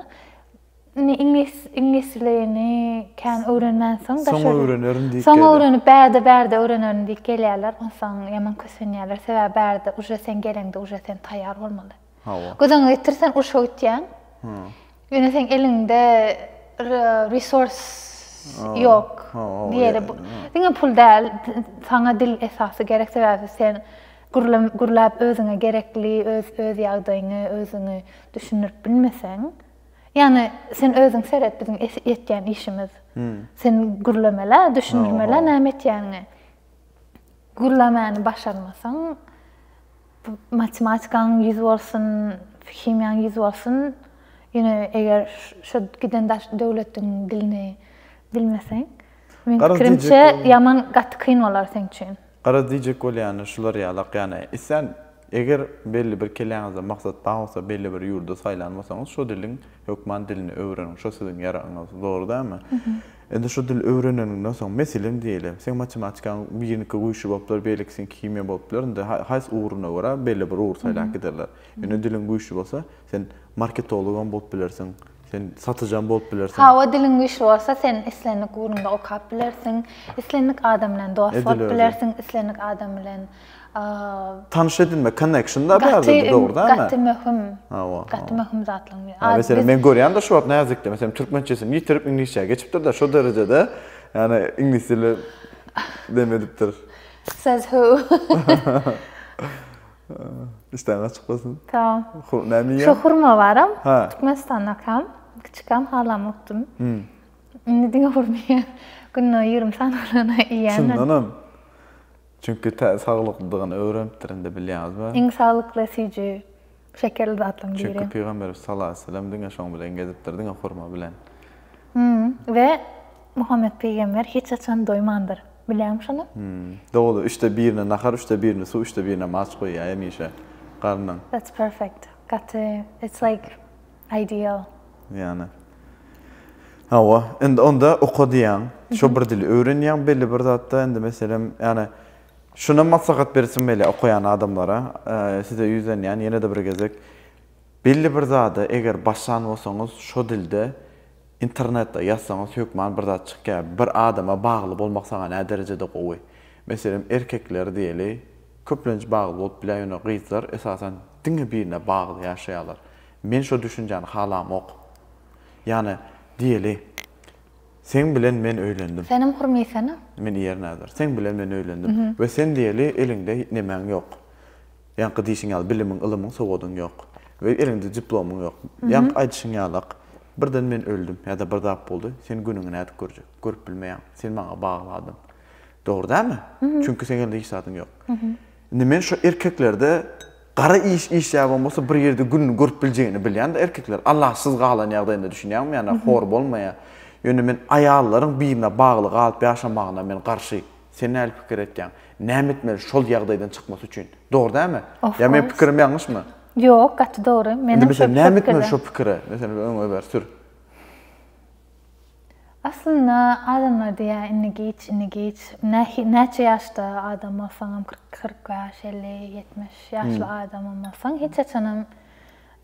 Speaker 2: indi iňlis iňlis dilini kän öwrenmänsoň daşary soň öwrenerin diýip soň öwrenip bärde bärde öwrenerin diýip gelýärler onsoň ýaman kösenýärler sebäbi bärde uje sen geleňde uje sen taýýar bolmaly Hawa. Gözaňa getir sen urşa gitýäň. Ýöne seň eliňde resource ýok. Diýeli. Diňe pul däl, saňa dil esasy gerek sebäbi sen gürläp özüňe gerekli öz öz ýagdaýyňy özüňi düşündirip bilmeseň. Ýagny sen özüň seret biziň etýän işimiz. Sen gürlemele, düşündirmele näme etýäniňi. Gürlemäni başarmasaň. Matematikaň ýüz bolsun, himiýaň ýüz bolsun. Ýöne eger şo giden daş döwletiň dilini bilmeseň, meň pikirimçe ýaman gaty kyn bolar seň üçin. Garaz diýjek
Speaker 1: bolýany şular ýalak ýany islän eger belli bir keleňizde maksat bar bolsa belli bir ýurdy saýlan bolsaňyz şo diliň Hökman dilini öwreniň, şo siziň ýaragyňyz. Dogry dälmi? Indi şo dili öwreneniňden soň, meselem diýeli, seň matematikaň biriniňki güýçli bolupdyr, beýlekisiňki himiýa bolupdyr, indi haýsy ugruna görä belli bir ugry saýlap giderler. Indi diliň güýçli bolsa, sen marketologam bolup bilersiň, sen satyjam bolup bilersiň. Hawa, diliň güýçli bolsa,
Speaker 2: sen islendik ugrunda okap bilersiň, islendik adam bilen dost bolup bilersiň, islendik adam bilen
Speaker 1: Tanyş edinme, connection da bärde dogrudanmy? Gaty möhüm.
Speaker 2: Hawa. Gaty möhüm zatlaryň biri. Hawa, sen men görýän de şu
Speaker 1: wagt näzikde, sen türkmençesini ýitirip iňlisçä geçipdir de, şu derejede, ýani iňlis dili dem edipdir. Says
Speaker 2: who.
Speaker 1: Işden açyk bolsun. Tamam. Näme
Speaker 2: ýa? Şu hurma
Speaker 1: baram.
Speaker 2: Ha. Türkmenistanda kam, kiçikam halam okdum. Hmm. Indi diňe hurma ýa. Günde 20 sany hurma ýa. Şundanam.
Speaker 1: Çünki tä saglyklydygyny öwrenipdir indi bilýäňiz mi? Iň saglykly
Speaker 2: süýji şekerli zatlaryň biri. Çünki Pygamberimiz sallallahu
Speaker 1: aleýhi weselem diňe şoň bilen gezipdir, diňe hurma bilen. Hum,
Speaker 2: we Muhammet pygamber hiç haçan doýmandyr. Bilýäňmi şony? Hum, dogry, üçde
Speaker 1: birine nahar, üçde birine suw, üçde birine maç goýýar hemişe garnyň. That's perfect.
Speaker 2: Gaty, it's like Ideal. Ýany.
Speaker 1: Hawa, indi onda okadýaň, şo bir dili öwrenýäň belli bir zatda, indi meselem, ýani şuna maslahat bersim gelýär okaýan adamlara, size ýüzlenýän ýene-de bir gezek. Belli bir zada eger başlan bolsaňyz, şo dilde internetde ýazsaňyz hökman bir zat çykýar. Bir adama bagly bolmak saňa näderejede gowy? Meselem, erkekler diýeli, köplenç bagly bolup bilýär, ýöne gyzlar esasan diňe birine bagly ýaşaýarlar. Men şo düşünjäni halamok. Ýany, diýeli, seň bilen men öýlendim. Senem hurmysana.
Speaker 2: Men iýerin häzir.
Speaker 1: Seň bilen men öýlendim. We sen diýeli eliňde nemäň ýok. Ýaňky diýşiň ýaly bilimiň, ylymyň, sowadyň ýok. We eliňde diplomyň ýok. Ýaňky aýdyşyň ýalak, birden men öldüm ýa-da bir zat boldy, sen günüňi nädip görjek? Görüp bilmeýäň. Sen maňa bagly adam. Dogry dälmi? Çünki seň elinde hiç zadyň ýok. Indi men şo erkeklerde gara iş işläbem bolsa bir ýerde gününi görüp biljegini bilýän da erkekler alaçsyz galan ýagdaýynda düşünýäňmi ýana hor bolmaýa ýöne men aýallaryň birine bagly galyp ýaşamagyna men garşy sen näli pikir etýäň näme etmeli şol ýagdaýdan çykmasy üçin dogry dälmi ýa meň pikirim ýalňyşmy ýok gaty
Speaker 2: dogry menem şo pikirde indi meselem näme etmeli şo pikire
Speaker 1: meselem öňe ber sür.
Speaker 2: Aslynda adamlar diýýär indi giç indi giç näçe ýaşda adam bolsaňam kyrk bäş elli ýetmiş ýaşly adamam bolsaň hiç haçanam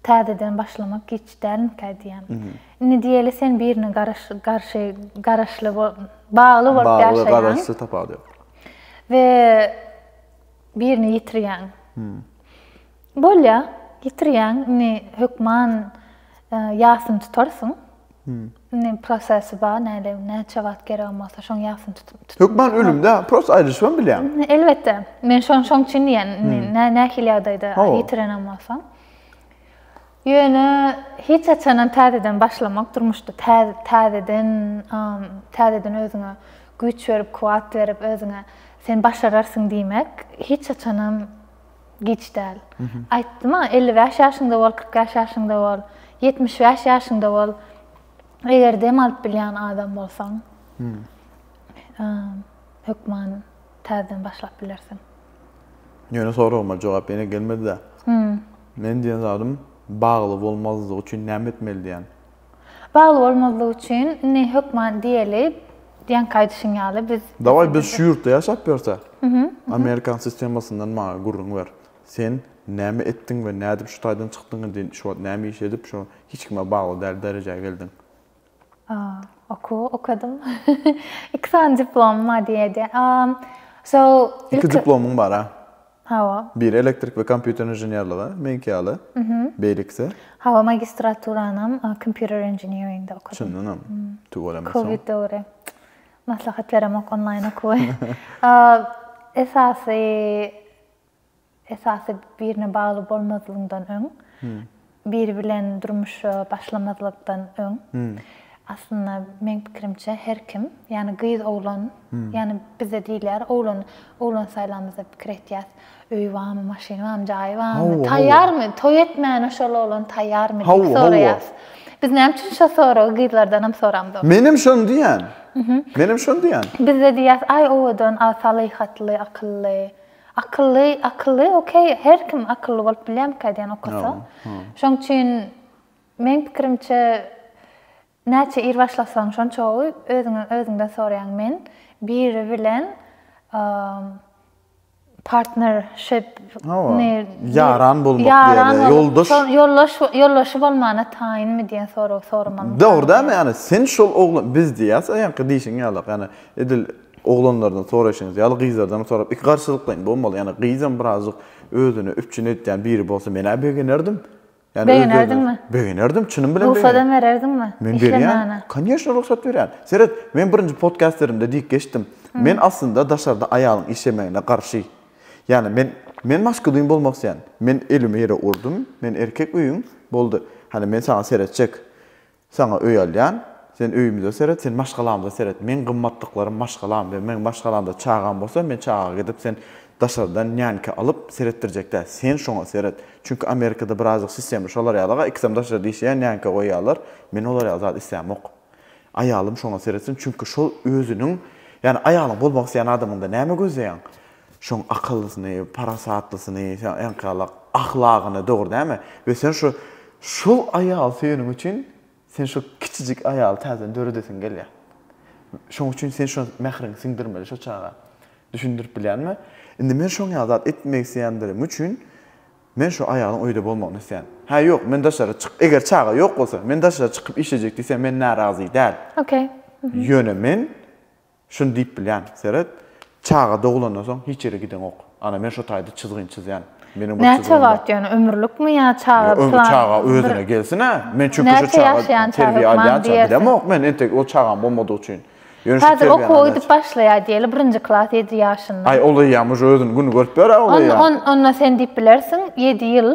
Speaker 2: täzeden başlamak giç dälmikä diýýän. Indi diýeli sen birine garşy garaşly bagly bolup ýaşaýaň. Bagly garaşly tapawudy
Speaker 1: ýok. We
Speaker 2: birini ýitirýäň. Bolýa, ýitirýäň, indi hökman ýasyny tutarsyň. Indi prosesi bar, näde, näçe wagt geregem bolsa, şoň ýasyny tutup. Hökman ölümde, prosta
Speaker 1: aýrylyşybam bilýän. Elbetde, men şoň
Speaker 2: şoň üçin diýýän, indi nähili ýagdaýda ýitirenem bolsaň. Ýöne hiç haçanam täzeden başlamak durmuşda, täzeden, täzeden özüňe güýç berip, kuwwat berip, özüňe sen başararsyň diýmek hiç haçanam. Giç däl. Aýtdym-a, elli bäş ýaşyňda bol, kyrk bäş ýaşyňda bol, ýetmiş bäş ýaşyňda bol, eger dem alyp bilýän adam bolsaň, hökman täzeden başlap bilersiň. Ýöne
Speaker 1: soragyma jogap ýene gelmedi-dä. Men diýen zadym bagly bolmazlygy üçin näme etmeli diýen. Bagly
Speaker 2: bolmazlyk üçin ne hökman diýeli diýenki aýdyşyň ýaly biz Dawaý biz şu ýurtda
Speaker 1: ýaşap ýörse Amerikan sistemasyndan maňa gürrüň ber. Sen näme etdiň we nädip şu taýdan çykdyň indi şu wagt näme iş edip şu hiç kime bagly däl derejä geldiň. Okuw
Speaker 2: okadym. Iki sany diplomym bar diýeli. So
Speaker 1: ilki. Iki diplomyň bar-a. Hawa. Biri
Speaker 2: elektrik we
Speaker 1: kompýuter inženerligi, meňki ýaly. Beýlekisi? Hawa,
Speaker 2: magistraturanym computer engineeringde okadym. Çyndanam?
Speaker 1: Tüweleme soň. Covid döwri.
Speaker 2: Maslahat beremok onlaýn okuwy. Esasy, esasy birine bagly bolmazlygyňdan öň Biri bilen durmuşa başlamazlykdan öň, aslynda meň pikirimçe her kim, ýani gyz oglan, ýani bizde diýilýär oglan oglan saýlamyzda pikir etýäs, öýi barmy, maşyny barmy, jaýy barmy, taýýarmy, toý etmäne şol oglan taýýarmy diýip soraýas. Biz näme üçin şo soragy gyzlardanam soramzok. Menem şony diýýän.
Speaker 1: Menem şony diýýän. Bizde diýýäs aý
Speaker 2: owadan, a salyhatly, akylly. Akylly akylly okey her kim akylly bolup bilýärmikä diýen okasa. Şoň üçin meň pikirimçe näçe ir başlasaň şonça gowy özüňe özüňden soraýaň men biri bilen partnership ne
Speaker 1: ýaran bolmak ýaran ýoldaş ýoldaş ýoldaşy bolmana
Speaker 2: taýynmy diýen sorag soramaly. Dogry dämi ýani
Speaker 1: sen şol oglan biz diýýäs aýaňky diýşiň ýaly ýani edil Oglanlardan soraýşyňyz ýaly gyzlardan sorap iki garşylyklaýyn bolmaly. Ýani gyzam birazjyk özüni üpjün edýän biri bolsa menä begenerdim. Ýani öz-özüne Begenerdiňmi? Begenerdim, çynym bilen begenerdim. Rugsada bererdiňmi?
Speaker 2: Men berýän. Işlemagana.
Speaker 1: Kanyýeşna rugsat berýän. Seret, men birinji podkastlerimde diýip geçdim. Men aslynda daşarda aýalyň işlemegine garşy. Ýani men men maskulin bolmak isleýän. Men elimi ýere urdum, men erkek öýüň, boldy. Hany men saňa seretjek. Saňa öý alýan, sen öýümize seret, sen maşgalamyza seret. Meň gymmatlyklarym maşgalam we meň maşgalamda çagam bolsa, men çaga gidip sen daşardan nýanka alyp seretdirjek däl. Sen şoňa seret. Çünki Amerikada birazajyk sistema şolar ýaly-a, ikisem daşarda işleýär, nýanka goýýarlar. Men olar ýaly zat islämok. Aýalym şoňa seretsin, çünki şol özüniň, ýagny aýalyň bolmak isleýän adamyňda näme gözleýäň? Şoň akyllysyny, parasatlysyny, sen enkalak ahlagyny, dogry dämi? We sen şu şol aýaly söýeniň üçin sen şo kiçijik aýaly täzeden döredesiň gelýär. Şoň üçin sen şo mähriňi siňdirmeli şo çaga. Düşündirip bilýänmi? Indi men şoň ýaly zat etmek isleýändigim üçin men şo aýalyň öýde bolmagyny isleýän. Hä ýok, men daşary çyk, eger çaga ýok bolsa, men daşary çykyp işlejek diýse men närazy däl. Okey.
Speaker 2: Ýöne men
Speaker 1: Şuny diýip bilýän, seret, çaga doglandan soň hiç ýere gideňok. Ana, men şo taýda çyzgyny çyzýan. Meniň bir çyzgym bar. Näçe wagt ýöne,
Speaker 2: ömürlikmi ýa çaga plan? Öňki çaga özüne gelsin-ä.
Speaker 1: Men çünki şo çaga terbiýe alýança gidemok men, entek ol çagam bolmadygy üçin. Ýöne şu terbiýäni alýança. Häzir
Speaker 2: okuwa gidip başlaýar diýeli, birinji klas ýedi ýaşynda. Aý, ol eýýäm uje özüniň
Speaker 1: gününi görüp biler-ä ol eýýäm. Onda sen diýip
Speaker 2: bilersiň, ýedi ýyl.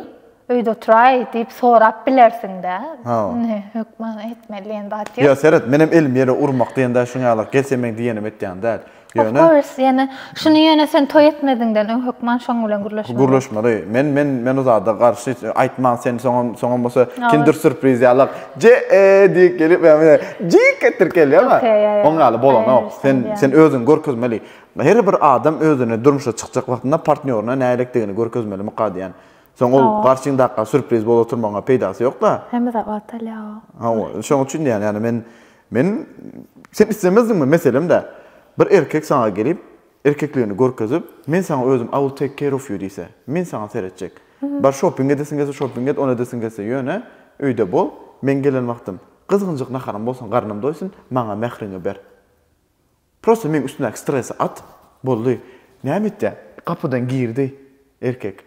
Speaker 2: Öýde oturaý diýip sorap bilersiň-dä. Ha. Ine, hökman etmeli diýen zat ýok. Ýa seret, menem elim
Speaker 1: ýere urmak diýende şuň ýaly gelsemeň diýenim etýän däl. Of Ýöne course, ýöne
Speaker 2: şuny ýöne sen toý etmeziňden öň hökman şoň bilen gürleşmeli. gürleşmeli. Men men
Speaker 1: men o zada garşy hiç aýtman sen soňam soňam bolsa Ýa, kinder ol- surpriz ýalak je e diýip gelip ýa mine jik etdirip gelýäň-a. Okey, ýa, ýa, Oň ýaly I bolanok. understand, Sen ýa. sen özüňi görkezmeli. Her bir adam özüne durmuşa çykjak wagtynda partnýoryna nälelikdigini görkezmeli mukadýan. Soň ol garşyňdaka surpriz bolup oturmagyňa peýdasy ýok-da. Hemme zat wagtalýa
Speaker 2: o. Hawa, şoň üçin
Speaker 1: diýýän, ýagny men, men, sen islemezdiňmi, meselem-dä, bir erkek saňa gelip, erkekligini görkezip, men saňa özüm I will take care of you diýse, men saňa seretjek. Bar şopping edesiň gelse şopping et, ony edesiň gelse ýöne, öýde bol, men gelen wagtym, gyzgynjyk naharyň bolsun, garnym doýsun, maňa mähriňi ber. Prosta meň üstümdäki stresi at, boldy. Näme etýäň? Gapydan girdi erkek.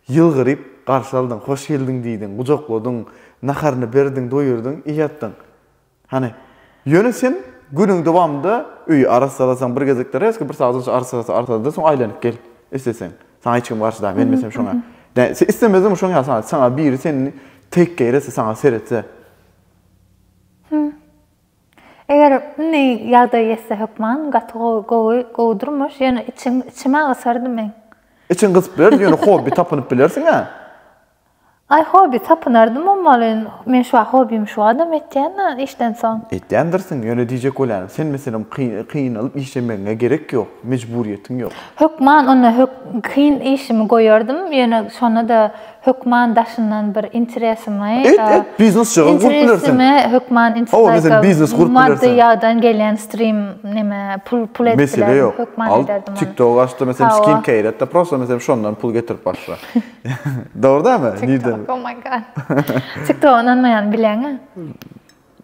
Speaker 1: Ýylgyryp garşy aldyň, hoş geldiň diýdiň, gujakladyň, naharyny berdiň, doýurdyň, ýatdyň. Hany, ýöne sen günüň dowamynda öýi arassalasaň, bir gezekler resga bir sagat onça arassala, arssala-da, soň aýlanyp gel, isleseň. Saňa hiç kim garşy däl, menmesem şoňa. Dä, sen islemezdiňmi şoňa ýa saňa, saňa biri seni teýk geýrese, saňa seretse?
Speaker 2: Eger indi ýagdaý ýetse hökman gaty gowy gowy durmuş ýöne içiň içime gysardy meň. Içiň gysyp bilerdi
Speaker 1: ýöne hobbi tapynyp bilersiňä.
Speaker 2: Aý hobbi tapynardym bolmaly men şu wagt hobbimi şu adam etýänä işden soň. Etýändirsiň ýöne
Speaker 1: diýjek bolýanym sen meselem kynalyp işlemegiňe gerek ýok mejburyýetiň ýok. Hökman onda
Speaker 2: kyn işimi goýardym ýöne şonda da Hökman daşyndan bir interesimi Et et biznes jagy
Speaker 1: gurup bilersiň. Interesimi hökman insight. Hawa
Speaker 2: meselem biznes gurup
Speaker 1: bilersiň. Maddy ýagdan
Speaker 2: gelýän stream neme pul pul edip bilerdim. Mesele ýok. Hökman ederdim ony. Al
Speaker 1: tiktok açda meselem skin care etde prosta meselem şondan pul getirip başla. Dogry dämi? Nirden? Tiktok oh my god.
Speaker 2: Tiktoga ynanmaýan bileňä.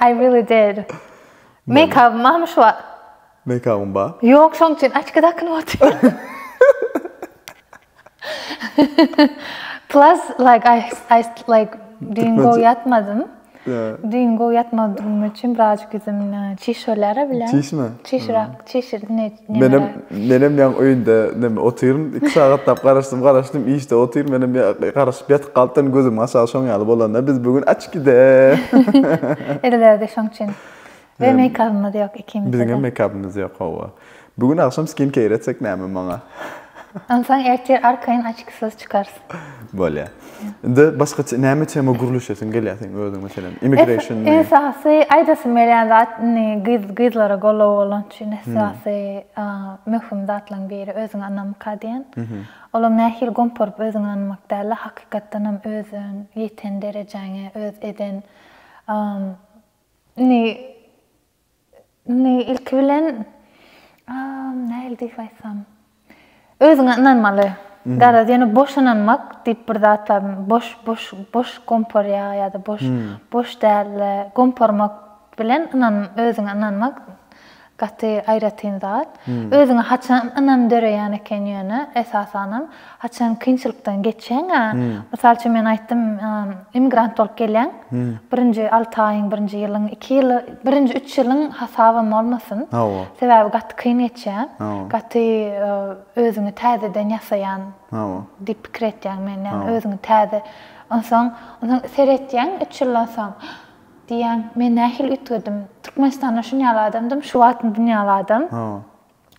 Speaker 2: I really did. Meýkabym barmy şu wagt?
Speaker 1: Meýkabym bar. Ýok, şoň üçin açki
Speaker 2: dakynyp otyryn. Plus like I I like düýn gowy ýatmadym. Düýn gowy ýatmadygym üçin birazjyk ýüzüm çişirler bilen. Çişme. Çişirak,
Speaker 1: çişir.
Speaker 2: Menem menem
Speaker 1: ýaň öýünde näme otyryn. 2 sagatlap garaşdym, garaşdym, işde otyryn. Menem garaşyp ýatyp galypdyryn, gözüm aşak şoň ýaly bolanda biz bu gün açkide.
Speaker 2: Edilerdi şoň üçin. We meýkabymyz ýok ikimiz. Biziň hem meýkabymyz ýok,
Speaker 1: hawa. Bu gün agşam skin keýr etsek näme maňa? Onsoň
Speaker 2: ertir arkaýyn açkisyz çykarys. Bolýa.
Speaker 1: Indi başga näme tema gürleşesiň gelýär seň özüň meselem? Immigration. Esasy
Speaker 2: aýdasym gelýän zat indi gyz gyzlara goldaw bolan üçin esasy möhüm zatlaryň biri özüňe ynamka diýen. Olam nähili gomparyp özüňe ynanmak däl-de, hakykatdan hem özüň ýeten derejäňe, öz eden indi Indi ilki bilen nähili diýip aýtsam, özüňe ynanmaly. Garaz, ýöne boş ynanmak diýip bir zat bar. Boş, boş, boş gomparýa ýa-da boş, boş däl-de, gomparmak bilen ynan, özüňe ynanmak gaty aýratyn zat. Özüňe haçan ynam döreýän eken ýöne esasanam? Haçan kynçylykdan geçseň-ä, mysal üçin men aýtdym, immigrant bolup gelýäň, birinji alty aýyň, birinji ýylyň, iki ýyl, birinji üç ýylyň hasabam bolmasyn. Hawa. Sebäbi gaty kyn geçýä. Hawa. Gaty özüňi täzeden ýasaýan. Hawa. Diýip pikir etýäň men, ýagny özüňi täze. Onsoň, onsoň seretýäň üç ýyldan soň, diýýäň, men nähili üýtgedim? Türkmenistanda şuny ýaly adamdym, şu wagt indi ýaly adam. Hawa.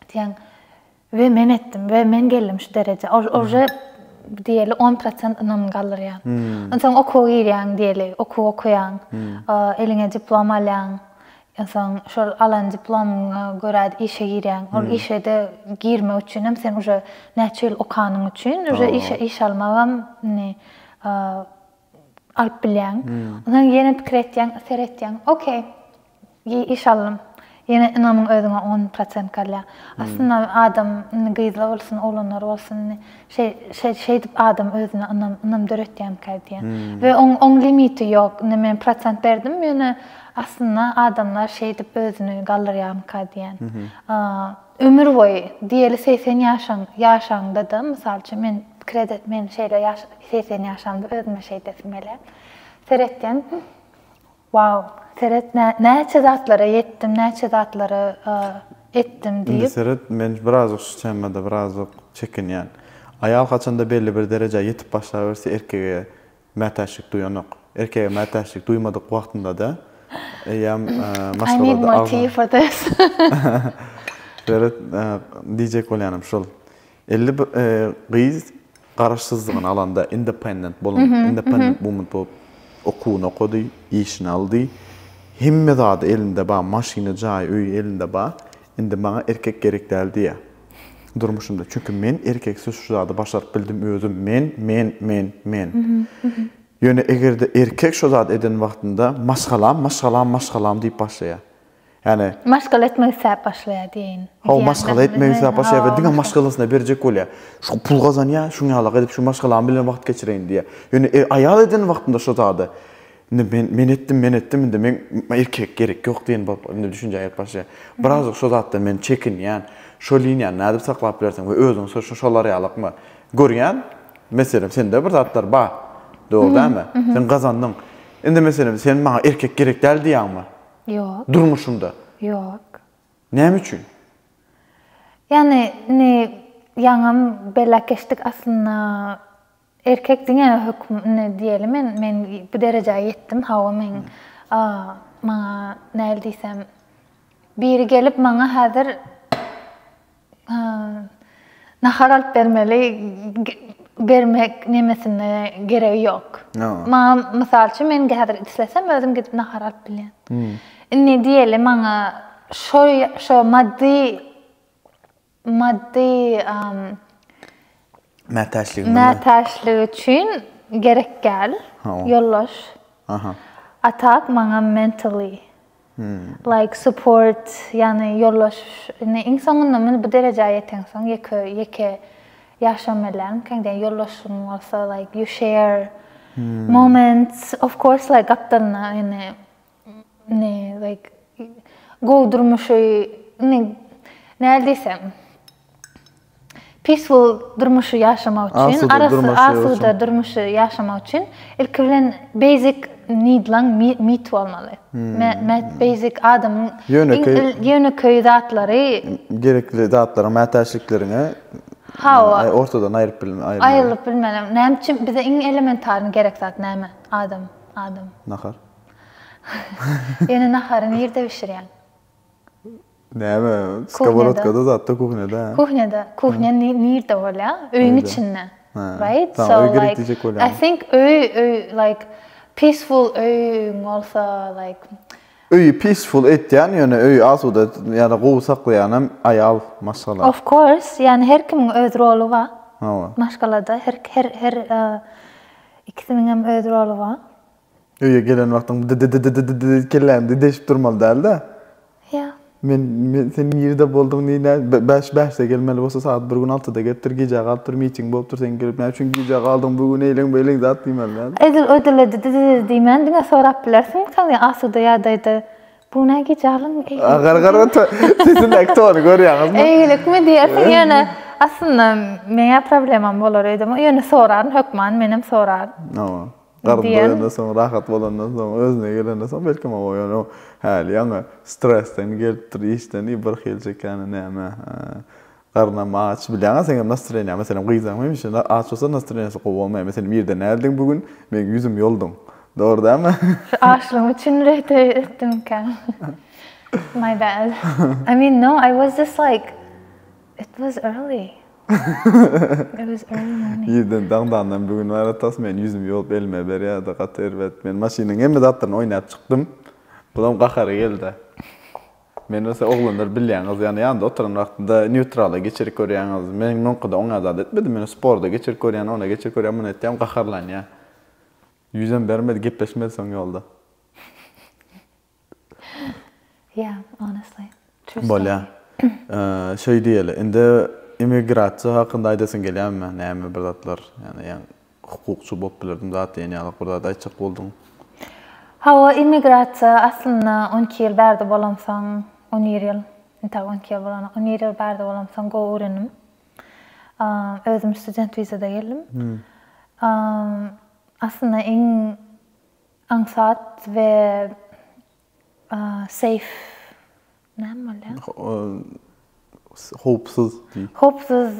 Speaker 2: Diýýäň. We men etdim, we men geldim şu derejä. Ol uje diýeli 10 prosent ynamyny galdyrýar. Onsoň okuwa girýäň diýeli, okuw okaýaň, eliňe diplom alýaň. Onsoň şol alan diplomyňa görä işe girýäň. Ol işe-de girmek üçin hem sen uje näçe ýyl okanyň üçin uje işe iş almak hem indi alyp bilýäň. Onsoň ýene pikir etýäň, seretýäň, okey. Giý iş allym. Ýene ynamyň özüňe on prosent galýar. Aslynda adam indi gyzlar bolsun, oglanlar bolsun indi şeý şeý şeýdip adam özüne ynam ynam döretýänkä diýýän. We oň oň limiti ýok. Indi men prosent berdim ýöne aslynda adamlar şeýdip özüni galdyrýanka diýýän. Ömür boýy diýeli segsen ýaşaň ýaşaňda-da mysal üçin men pikir ede men şeýle ýaş segsen ýaşamda özüme şeýdesim gelýär. Seretýän Waw seret näçe zatlara ýetdim näçe zatlara etdim diýip. Indi seret men birazajyk
Speaker 1: şu temada birazajyk çekinýän. Aýal haçanda belli bir derejä ýetip başlaberse erkege mätäçlik duýanok. Erkege mätäçlik duýmadyk wagtyndada eýýäm maşgalada
Speaker 2: agza. Seret
Speaker 1: diýjek bolýanym şul. Elli bir gyz garaşsyzlygyny alanda independent bolan, independent woman bolup okuwyny okady, işini aldy. Hemme zady elinde bar, maşyny, jaýy, öýi elinde bar. Indi maňa erkek gerek däl diýýär durmuşynda. Çünki men erkeksiz şu zady başaryp bildim özüm. Men, men, men, men. Ýöne eger-de erkek şo zady eden wagtynda maşgalam, maşgalam, maşgalam diýip başlaýar. Ýani. Maşgala etmek isläp
Speaker 2: başlaýar diýeýin. Hawa, maşgala etmek
Speaker 1: isläp başlaýar we diňe maşgalasyna berjek bolýar. Şu pul gazanýar, şuň ýalyk edip şu maşgalam bilen wagt geçireýin diýýär. Ýöne e, aýal eden wagtynda şu zady, Indi men, men etdim, men etdim, indi men, erkek gerek ýok diýen bolup, indi düşünjä gelip başlaýar. Birazajyk şu zatdan men çekinýän, şo liniýany nädip saklap bilersiň we özüňi so, şolar ýalykmy? Görýän, meselem, sende bir zatlar bar. Dogry dälmi? Sen gazandyň. Indi, meselem, sen maňa erkek gerek däl diýýäňmi? Ýok. Durmuşynda? Ýok.
Speaker 2: Näme üçin? Ýagny indi ýaňam belläp geçdik aslynda erkek diňe höküm indi diýeli men men bu derejä ýetdim hawa men maňa näl diýsem biri gelip maňa häzir Nahar alyp bermeli bermek nemesine geregi ýok. Maňa mysal üçin men häzir islesem özüm gidip nahar alyp bilýän. Hmm. Indi diýeli maňa şo şo maddy maddy mätäçlik mätäçlik üçin gerek gel. Ýollaş. Aha. Atak maňa mentally like support ýagny ýoldaş indi iň soňunda muny bu derejä ýeteňsoň ýeke ýeke ýaşam elläň käň diýen ýoldaşyň bolsa like you share moments of course like gapdalyna indi indi like gowy durmuşy indi nädip diýsem Peaceful durmuşy ýaşamak üçin, asuda durmuşy ýaşamak üçin ilki bilen basic need-laň meet bolmaly. Basic adamyň ýönekeý zatlary. Gerekli
Speaker 1: zatlaryň, mätäçlikleriňe ortadan aýryp bilmeli. Aýrylyp bilmeli.
Speaker 2: Näme üçin bize iň elementarny gerek zat näme? Adam, adam. Nahar. Ýöne nahary nirde bişirýäň? Näme,
Speaker 1: skоворodkada zatda, kuhnýada? Kuhnýada. Kuhnya
Speaker 2: nirde bolýa? Öýüň içinde. Right? So
Speaker 1: like, I think
Speaker 2: öý, öý, like, peaceful öýüň bolsa, like. Öýi
Speaker 1: peaceful etýän, ýöne öýi asuda ýa-da gowy saklaýanam aýal, maşgala. Of course, ýani
Speaker 2: her kimiň öz roly bar. Hawa. Maşgalada
Speaker 1: her, her, her
Speaker 2: ikisiniňem öz roly bar. Öýe gelen
Speaker 1: wagtyň dy-dy-dy-dy-dy-dy kelläni dy-deşip durmaly däl-dä. Ýa.
Speaker 2: Men, men
Speaker 1: sen nirde bolduň, ni nä, be, bäş, bäşde gelmeli bolsa sagat bir gün altyda gelipdir, gijä galypdyr, miting bolupdyr, sen gelip näme üçin gijä galdyň bu gün eýleň, beýleň zat diýmeli däl-dä. Edil öýdülde dy-dy-dy-dy
Speaker 2: diýmän diňe sorap bilersiňmikäň diýen asuda ýagdaýda, bu gün näme gijä galdyň, eýleň. A, gara, gara, to,
Speaker 1: sesindäki tony görýäňizmi? Eýgilikmi diýersiň,
Speaker 2: ýöne aslynda meň-ä problemam bolar öýdemok, ýöne soraryn hökman, menem soraryn. Hawa. Garyn
Speaker 1: doýandan soň, rahat bolandan soň, özüne gelenden soň belki maňa ýöne o häli ýaňy stresden gelipdir, işden i bir hili çekýäni näme. Garnam aç. Bilýäňä seň hem nastreniýaň. Meselem, gyzaň hemişe aç bolsa nastreniýasy gowy bolmaýar. Meselem, irden näldin bu gün? Meň ýüzüm ýolduň. Dogry dälmi? Şu açlygyň üçin
Speaker 2: rehte etdimkäň. My bad. I mean no, I was just like, it was early. Irden daňdandan bu
Speaker 1: gün aratas men ýüzümi ýuwup elime berýärdi gaty erbet. Men maşynyň hemme zatlaryny oýnap çykdym. Bulam gahary geldi. Men bolsa oglanlar bilýäňiz ýa ýanynda oturan wagtynda nýutrala geçirip görýäňiz. Men muňkyda oňa zat etmedim. Men sporda geçirip görýän, ona geçirip görýän, muna etýän gaharlanýa. Ýüzem bermedi, gepleşmedi soň ýolda.
Speaker 2: Bolýa.
Speaker 1: Şeý diýeli, indi immigrasiýa hakynda aýdasyň gelýärmi? Näme bir zatlar? Ýani ýa hukukçy bolup bilerdim zat diýen ýaly bir zat aýtjak bolduň. Hawa,
Speaker 2: immigrasiýa aslynda on iki ýyl bärde bolamsoň, on bir ýyl, entäk on iki ýyl bolanok, on bir ýyl bärde bolamsoň gowy öwrendim. Özüm student wizada geldim. Aslynda iň Aňsat we seýf näme bolýar? Howpsuz diý. Howpsuz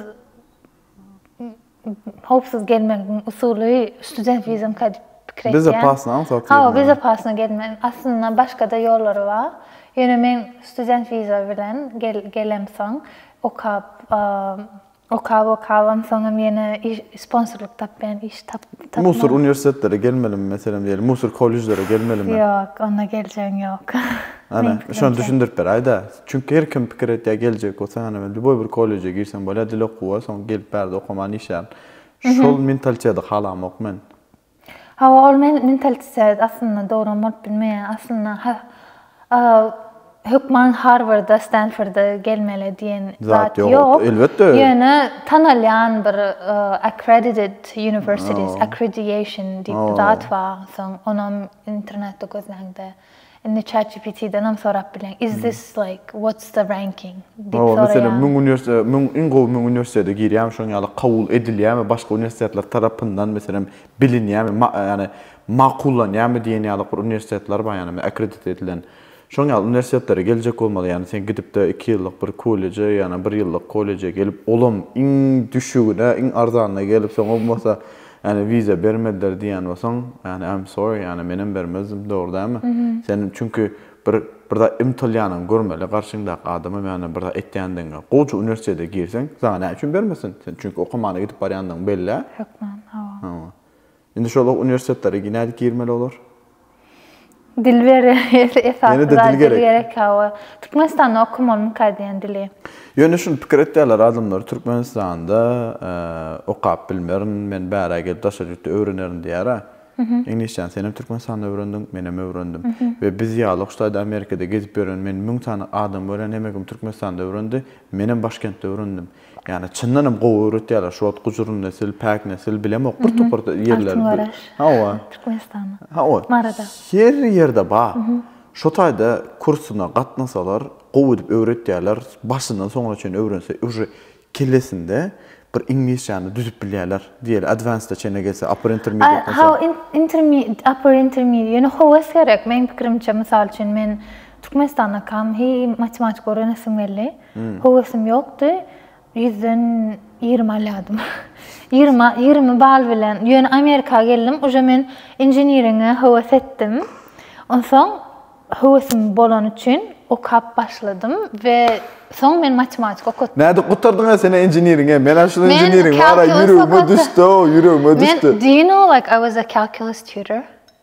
Speaker 2: howpsuz gelmegiň usuly student wizamka diýip pikir etýän. Bezopasno aňsat
Speaker 1: gelmek. Hawa, bezopasno
Speaker 2: gelmek. Aslynda başga-da ýollary bar. Ýöne men student wiza bilen gelemsoň, okap, Okap okabam soňam ýene iş sponsorlyk tapýan iş tap tapman. Musur uniwersitetlere
Speaker 1: gelmelimi meselem diýeli musur kollejlere gelmelimi. Ýok onda geljegiň
Speaker 2: ýok. Ana şony
Speaker 1: düşündirip beräýdä. Çünki her kim pikir etýä geljek bolsa ana men lýuboý bir kolleje girsem bolýa dil okuwa soň gelip bärde okaman işlär. Şol mentalitedi halamok men. Hawa
Speaker 2: ol mentalitet aslynda dogran bolup bilmeýär. Aslynda hökman Harwarda, Stanforda gelmeli diýen zat ýok. Elbetde. Ýöne tanalýan bir accredited universities, accrediation diýip bir zat bar. Soň onam internetde gözläňde. Indi ChatGPT-denem sorap bileň, is this like what's the ranking diýip Hawa, meselem, soraýan.
Speaker 1: müň uniwersite, müň, iň gowy müň uniwersitete girýärmi, şoň ýaly kabul edilýärmi, başga uniwersitetler tarapyndan, meselem, bilinýärmi, ma, ýagny makullanýarmy diýen ýaly bir uniwersitetler bar, ýagny akkredite edilen. Şoň ýaly uniwersitetlere geljek bolmaly, ýagny sen gidip-de iki ýyllyk bir kolleje ýa-da bir ýyllyk kolleje gelip, olam iň düşügine, iň arzanyna gelip, soňam bolsa, Ýani wiza bermediler diýýän bolsaň ýani I'm sorry ýani menem bermezdim dogry dälmi? Sen çünki bir bir zat ymtylýanyňy görmeli garşyňdaky adamam ýani bir zat etýändigiňe gowja uniwersitete girseň saňa näme üçin bermesin sen çünki okamana gidip barýandygyň bellä. Hökman
Speaker 2: hawa. Hawa. Indi şol
Speaker 1: uniwersitetlere nädip girmeli olar?
Speaker 2: Dil beri esasy dil gerek hawa. Türkmenistanda okamaly mykay diýen dili. Ýöne şuny pikir
Speaker 1: etýärler adamlar Türkmenistanda okap bilmerin, men bärä gelip daşary ýurtda öwrenerin diýärä. Iňlisçäni senem Türkmenistanda öwrendiň, menem öwrendim. We biz ýaly şu taýda Amerikada gezip ýören men müň sany adam görýän hemekm Türkmenistanda öwrendi, menem başkentde öwrendim. Ýani çyndan hem gowy öwretýärler. Şu wagt Gujur nesil, Päk nesil bilemok bir topar ýerler. Hawa.
Speaker 2: Türkmenistanda.
Speaker 1: Hawa.
Speaker 2: Marada.
Speaker 1: Her
Speaker 2: ýerde
Speaker 1: bar. Şu taýda kursuna gatnasalar, gowy edip öwretýärler. Başyndan soňuna çenli öwrense uje kellesinde bir iňlisçäni düzüp bilýärler. Diýeli advanced-a çenli gelse, upper intermediate bolsa. Hawa,
Speaker 2: upper intermediate, ýöne höwes gerek. Meň pikirimçe, mysal üçin men Türkmenistanda kam hi matematika öwrenesim geldi. Höwesim ýokdy. Ýüzden ýigrimi alýadym. Ýigrimi ýigrimi bal bilen. Ýöne Amerika geldim. Uje men inženiriňe höwes etdim. Onsoň höwesim bolany üçin okap başladym we soň men matematika okatdym. Nädip gutardyňa sen
Speaker 1: inženiriňe? Men a şul inženiriň bar-a ýüregime düşdi-ow, ýüregime düşdi. Men do you know like I
Speaker 2: was a calculus tutor?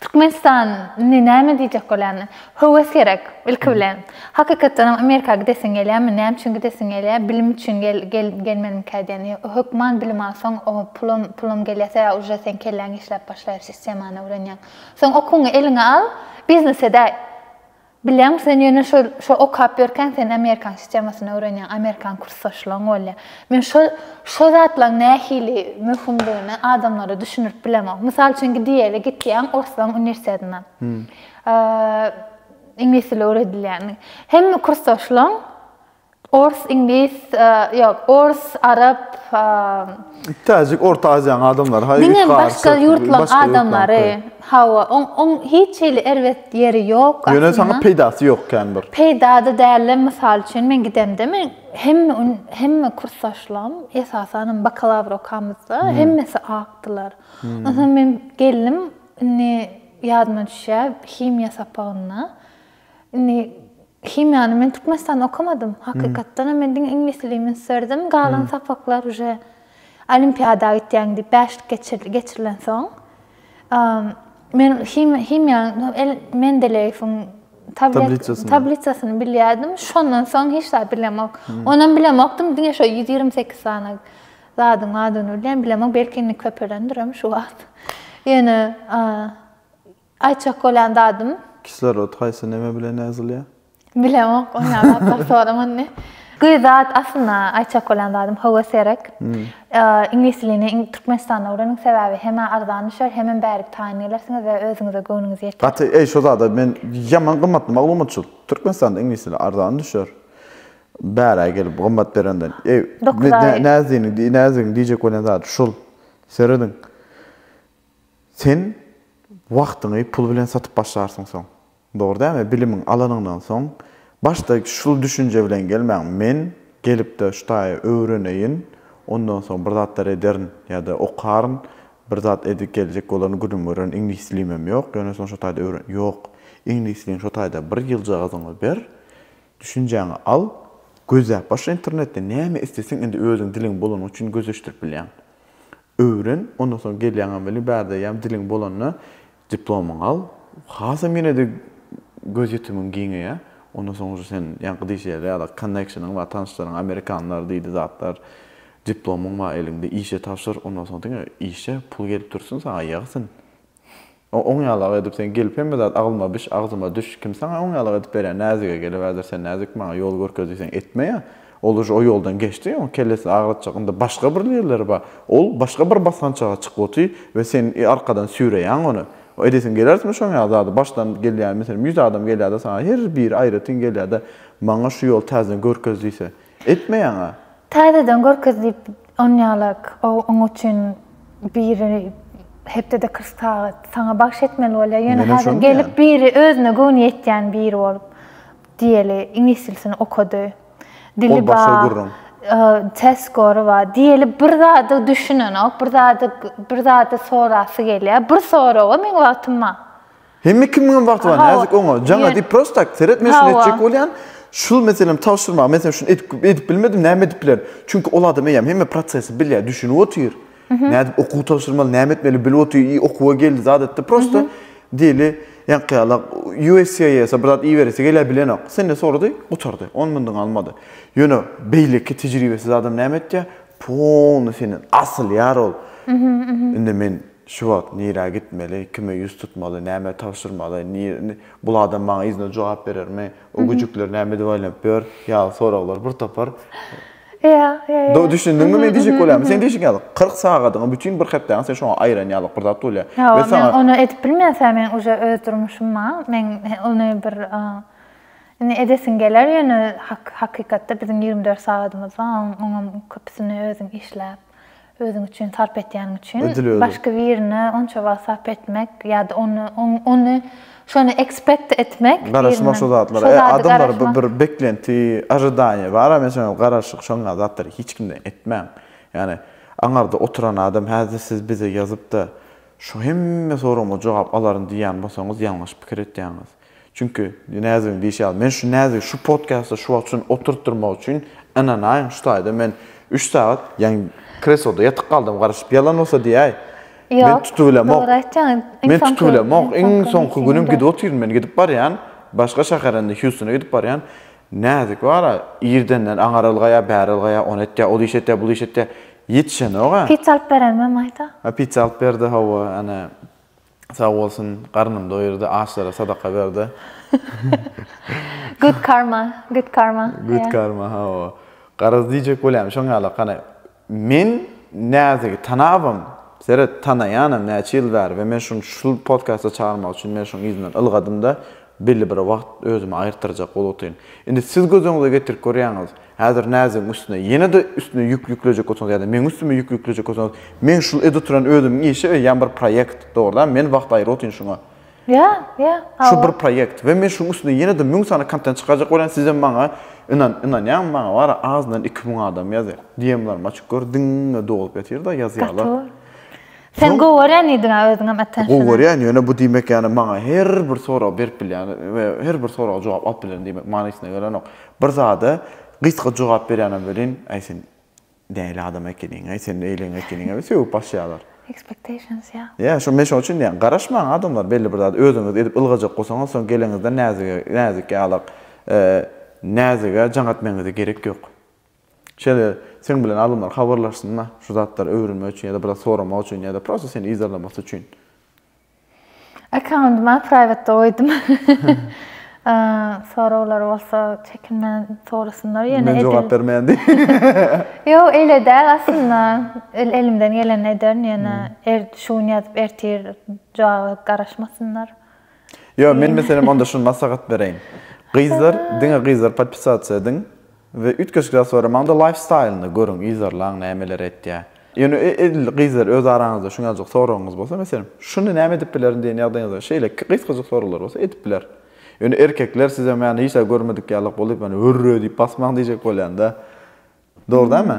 Speaker 2: Türkmenistan indi näme diýjek bolýany? Höwes gerek, ilki bilen. Hakykatdanam Amerika gidesiň gelýärmi? Näme üçin gidesiň gelýär? Bilim üçin gelmelimikä diýen. Hökman bilim alsaň, pulam, pulam gelýärse ýa uje seň kelläň işläp başlaýar, sistemany öwrenýäň. Soň okuňy eliňe al, biznese däý. Bilýäň, sen ýöne şol, şo okap ýörkäň sen amerikan sistemasyny öwrenýäň, amerikan kursdaşlaň bolýa. Men şo, şo zatlaň nähili möhümdigini adamlara düşündirip bilemok. Mysal üçin gidiýeli gitýäň orslaň uniwersitetine. Eee, iňlis dili öwredilýän. Hemme kursdaşlaň Ors, iňlis, ýok, ors, arap,
Speaker 1: Täjik, Orta Aziýanyň adamlary, haý, diňe başga başga
Speaker 2: ýurtlaryň adamlary, hawa, oň, oň hiç hili erbet ýeri ýok aslynda. Ýöne saňa peýdasy
Speaker 1: ýok kän bir. Peýda-da dälde,
Speaker 2: mysal üçin, men gidemde, men hemme gün, hemme kursdaşlarym, esasanam bakalawr okamyzda, hemmesi akdylar. Onsoň men geldim, indi ýadyma düşýär, himiýa sapagynda, indi Himiýany men Türkmenistanda okamadym. Hakykatdanam men diňe iňlis dilini ünslerdim. Galan sapaklar uje olimpiada gitýäň diýip bäşlik geçirdi, geçirilensoň men himiýanyň Mendeleýewiň Tabliçasyny. tabliçasyny bilýärdim. Şondan soň hiç zat bilemok. Onam bilemokdym, diňe şo ýüz ýigrimi sekiz sany zadyň adyny bilýän, bilemok, belki indi köpelendirem şu wagt. Ýöne Aýtjak bolýan zadym. Kislorod haýsy
Speaker 1: neme bilen ýazylýar? Bilemok,
Speaker 2: ony ýaly zatlar soraman indi. Gyz zat aslynda aýtjak bolýan zadym hawa serek. Iňlis dilini Türkmenistanda öwreniň sebäbi hemä arzan düşer hemem bärik taýyn gelersiňiz we özüňize göwnüňiz ýeter. Gaty eý şo zada men
Speaker 1: ýaman gymmatly maglumatçyl. Türkmenistanda iňlis dili arzan düşer. Bärä gelip gymmat berenden. Eý Dokuz aý. Näziniň näzigiň diýjek bolýan zady şul. Serediň. Sen wagtyňy pul bilen satyp başlarsyň soň. Dogry dämi? Bilimiň alanyňdan soň, başda şul düşünje bilen gelmäň, men gelipde şu taýy öwreneýin, ondan soň bir zatlar ederin ýa-da okaryn, bir zat edip geljek bolaryn, günüm görerin, iňlislimem ýok, ýöne soň şo taýda öwren. Ýok, iňlisliň şo taýda bir ýyljagazyňy ber, düşünjäňi al, gözläp başla internetde, näme isleseň indi özüň diliň bolany üçin gözleşdirip bilýäň. Öwren, ondan soň gelýäňem weli bärdeýäm diliň bolanda diplomyňy al. Hasam ýene-de göz ýetimiň giňeýär. Ondan soň uje sen ýaňky diýşi ýaly ýa-da konneksionyň bar, tanyşlaryň amerikanlar diýdi zatlar. Diplomyň bar eliňde, işe tabşyr, ondan soň diňe işe pul gelip dursun saňa ýagsyn. O oň ýalak edip sen gelip hemme zat aglyma biş agzyma düş kim saňa oň ýalak edip berýär näzige gelip häzir sen näzik maňa ýol görkez diýseň etmeýä ol uje o ýoldan geçdi oň kellesini agratjak ynda başga bir ýerleri bar ol başga bir basgançaga çykyp otyr we sen arkadan süýreýäň ony o edesiň gelertme şoň ýaly zady başdan gelýär meselem ýüz adam gelýärde saňa her biri aýratyn gelýärde maňa şu ýoly täzeden görkez diýse Etme ýaňa. Täzeden
Speaker 2: görkez diýip onýalak oň üçin biri hepdede kyrk sagat saňa bagş etmeli bolýar ýöne häzir gelip biri özüne göwni ýetýän biri bolup diýeli iňlis dilisini okady dili bar test gory bar diýeli bir zada düşünenok bir zada bir zada sorasy gelýär bir soraga meň wagtym bar. Hemme
Speaker 1: kimiňem wagty bar näzik oňa jaňa diýip prosto tak seretme şuny etjek bolýan şul meselem tabşyrma men sen şuny edip edip bilmedim näme edip bilerin çünki ol adam eýýäm hemme prosesi bilýär düşünip otyr nädip okuw tabşyrmaly näme etmeli bilip otyr i okuwa geldi zat etdi prosto diýeli ýaňky ýala uscis bir zat iýiberesi gelýär bilenok senden sorady gutardy on mundan almady ýöne beýleki tejribesiz adam näme etýär polny senden asylýar ol indi men Şu wagt nirä gitmeli, kime ýüz tutmaly, näme tabşyrmaly, bul adam maňa yzyna jogap berermi, o güjükler näme edip aýlanyp ýör, ýaly soraglar bir topar. Ýa,
Speaker 2: ýa, ýa. Düşündiňmi,
Speaker 1: men diýjek bolýarym? Sen diýşiň ýaly, kyrk sagadyňy, bütin bir hepdäňi sen şoňa aýyran ýalyk bir zat bolýar. Ýa, men ony edip
Speaker 2: bilmeýän, men uje öz durmuşym bar, men ony bir, indi edesim geler, ýöne hakykatda biziň ýigrimi dört sagadymyz bar, oňam köpüsini özüň işläp, Özüň üçin sarp etýäniň üçin başga birine onça wagt sarp etmek ýa-da ony ony şony ekspekt etmek birinden. Garaşmak şo zatlara.
Speaker 1: Adamlar bir beklenti, ojidaniýa bar-a men şoňa garaşyk şoňa zatlary hiç kimden etmäň. Ýagny aňarda oturan adam häzir siz bize ýazyp-da şu hemme soragma jogap alaryn diýýän bolsaňyz ýalňyş pikir etýäňiz. Çünki Näzigiň diýşi ýaly, men şu Näzigi şu podkastda şu wagt üçin oturtdyrmak üçin ynanaýyn, şu taýda men üç sagat, ýaňy kresloda ýatyp galdym, garaşyp, ýalan bolsa diýäý. Men tutubilemok. Men tutubilemok. Iň soňky günüm gidip otyryn men, gidip barýan, başga şähere indi Hýustona gidip barýan. Näzik bar-a, irdenden aňar ylgaýar, bäri ylgaýar, ony etýär, ol iş etýär, bul iş etýär. Ýetişenok-a. Pizza alyp berenmi
Speaker 2: maýda? Pizza alyp berdi,
Speaker 1: hawa, ene, Sag bolsun garnym doýurdy açlara sadaka berdi. Good
Speaker 2: karma good karma. Good
Speaker 1: karma hawa. Garaz diýjek bolýan şoň ýala gana men Näzigi tanabam seret tanaýanam näçe ýyl bäri we men şuny şul podkasta çagyrmak üçin men şoň yzyndan ylgadymda Belli bir wagt özümi aýyrtdyrjak bolupdyryn. Indi siz göz öňüňize getirip görýäňiz. Häzir näzigiň üstüne, ýene-de üstüne ýük ýüklejek bolsaňyz ýa-da meň üstüme ýük ýüklejek bolsaňyz, meň şul edip oturan özümiň işi we ýa-da bir proýekt, dogrudanam, men wagt aýyrypotyryn şuňa. Ýa, ýa,
Speaker 2: hawa. Şu bir
Speaker 1: proýekt we men şuň üstüne ýene-de müň sany kontent çykarjak bolýan, sizem maňa ynan, ynanýaňyz, maňa bara azyndan iki müň adam ýazýar. DM-larym açyk gör, diňe dolup ýatyr-da, ýazýarlar. Gaty bor. Sen
Speaker 2: gowy görýän diýdiň-ä özüňem attention. Gowy görýän, ýöne bu diýmek
Speaker 1: ýany maňa her bir soragy berip bilýän we her bir soraga jogap alyp bilerin diýmek manysyna gelenok. Bir zada gysga jogap berýänem welin, äý sen näli adam ekeniň, äý sen beýleň ekeniň we sögüp başlaýarlar. Expectations
Speaker 2: ýa. Ýa şo men şoň üçin diýýän,
Speaker 1: garaşmaň adamlar belli bir zady özüňiz edip ylgajak bolsaňyz soň geleniňizde näzige näzik ýalak näzige jaň etmegiňize gerek ýok. Şeýle seň bilen alymlar habarlaşsynda, şu zatlary öwrenmek üçin ýa-da bir zat soramak üçin ýa-da prosta seni yzarlamasy üçin. Accounty
Speaker 2: maňa private-de goýdum. Soraglar bolsa çekinmän sorasynlar ýöne. Men jogap bermeýän diý.
Speaker 1: Ýok,
Speaker 2: eýle däl aslynda. Elimden gelenini ederin ýöne şu gün ýazyp ertir jogaby garaşmasynlar. Ýok,
Speaker 1: men meselem onda şuny maslahat bereýin. Gyzlar, diňe gyzlar podpisasiýa ediň we üýtgeşikler soramaňda laýfstaýlyny görüň, yzarlaň nämeler etýä. Ýöne edil gyzlar öz araňyzda şuňajyk soragyňyz bolsa, meselem, şuny näme edip bilerin diýen ýagdaýyňyzda şeýle gysgajyk soraglar bolsa edip biler. Ýöne erkekler size many hiç zat görmedik ýalyk bolup, ýöne hürre diýip basmaň diýjek bolýanda. Dogry dälmi?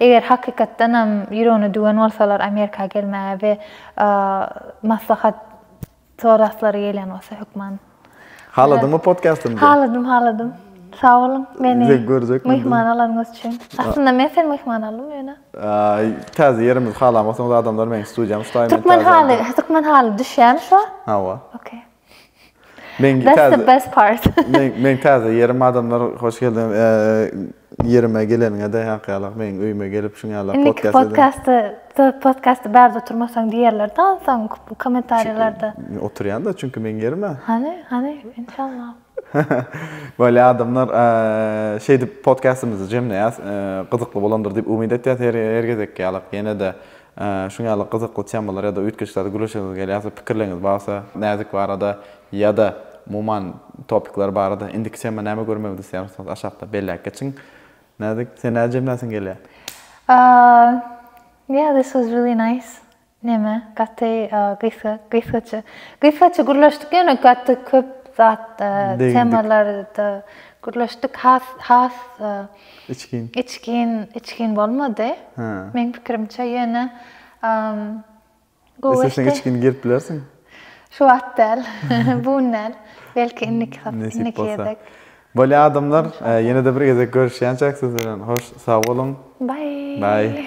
Speaker 2: Eger hakykatdanam ýüregine düwen bolsalar Amerika gelmäge we maslahat sorasylary gelýän bolsa hökman. Haladyňmy
Speaker 1: podcastymyzy? Haladym, haladym.
Speaker 2: Sag boluň meni myhman alanyňyz üçin. Aslynda men seni myhman aldym ýöne. Täze
Speaker 1: ýerimizi halamasaňyz adamlar meň studiýamy tutaýyn. Türkmen haly, türkmen
Speaker 2: haly düşýärmi şu? Hawa. Okey. Men
Speaker 1: That's the best part.
Speaker 2: men men täze
Speaker 1: ýerim adamlar hoş geldiňiz. Ýerime geleniňe-de ýaňky meň öýüme gelip şuň ýaly podcast edin. Podcasty podcasty bärde oturmasaň diýerler-de onsoň kommentariýalarda. Oturýan-da çünki meň ýerim-ä. Hany, hany,
Speaker 2: inşallah.
Speaker 1: Böyle adamlar şeýdip podcastymyzy jemleýäs. Gyzykly bolandyr diýip umyt etýäs. Her gezekki ýaly ýene-de Şuň ýaly gyzykly temalar ýa-da üýtgeşlerde gürleşesiňiz gelýärse, pikirleriňiz barsa, näzik barada ýa-da umuman topikler barada indiki tema näme görmegimizi isleýärsiňiz aşakda belläp geçiň. Näzik, sen nädip jemlänsiň gelýär? Aaa
Speaker 2: yeah this was really nice neme gaty gysga gysgaça gysgaça gürleşdik ýöne gaty köp zat temalarda gürleşdik has has Içgin. Içgin, içgin bolmady. Hä. Meň pikirimçe
Speaker 1: ýöne gowy geçdi. Isleseň
Speaker 2: içgin girip
Speaker 1: bilersiň.
Speaker 2: Şu wagt däl. Bu gün däl. Belki indiki hepde, indiki gezek. Bolýar
Speaker 1: adamlar, ýene-de bir gezek görüşýänçäk siz bilen. Hoş,
Speaker 2: sag
Speaker 1: boluň. Baý. Baý.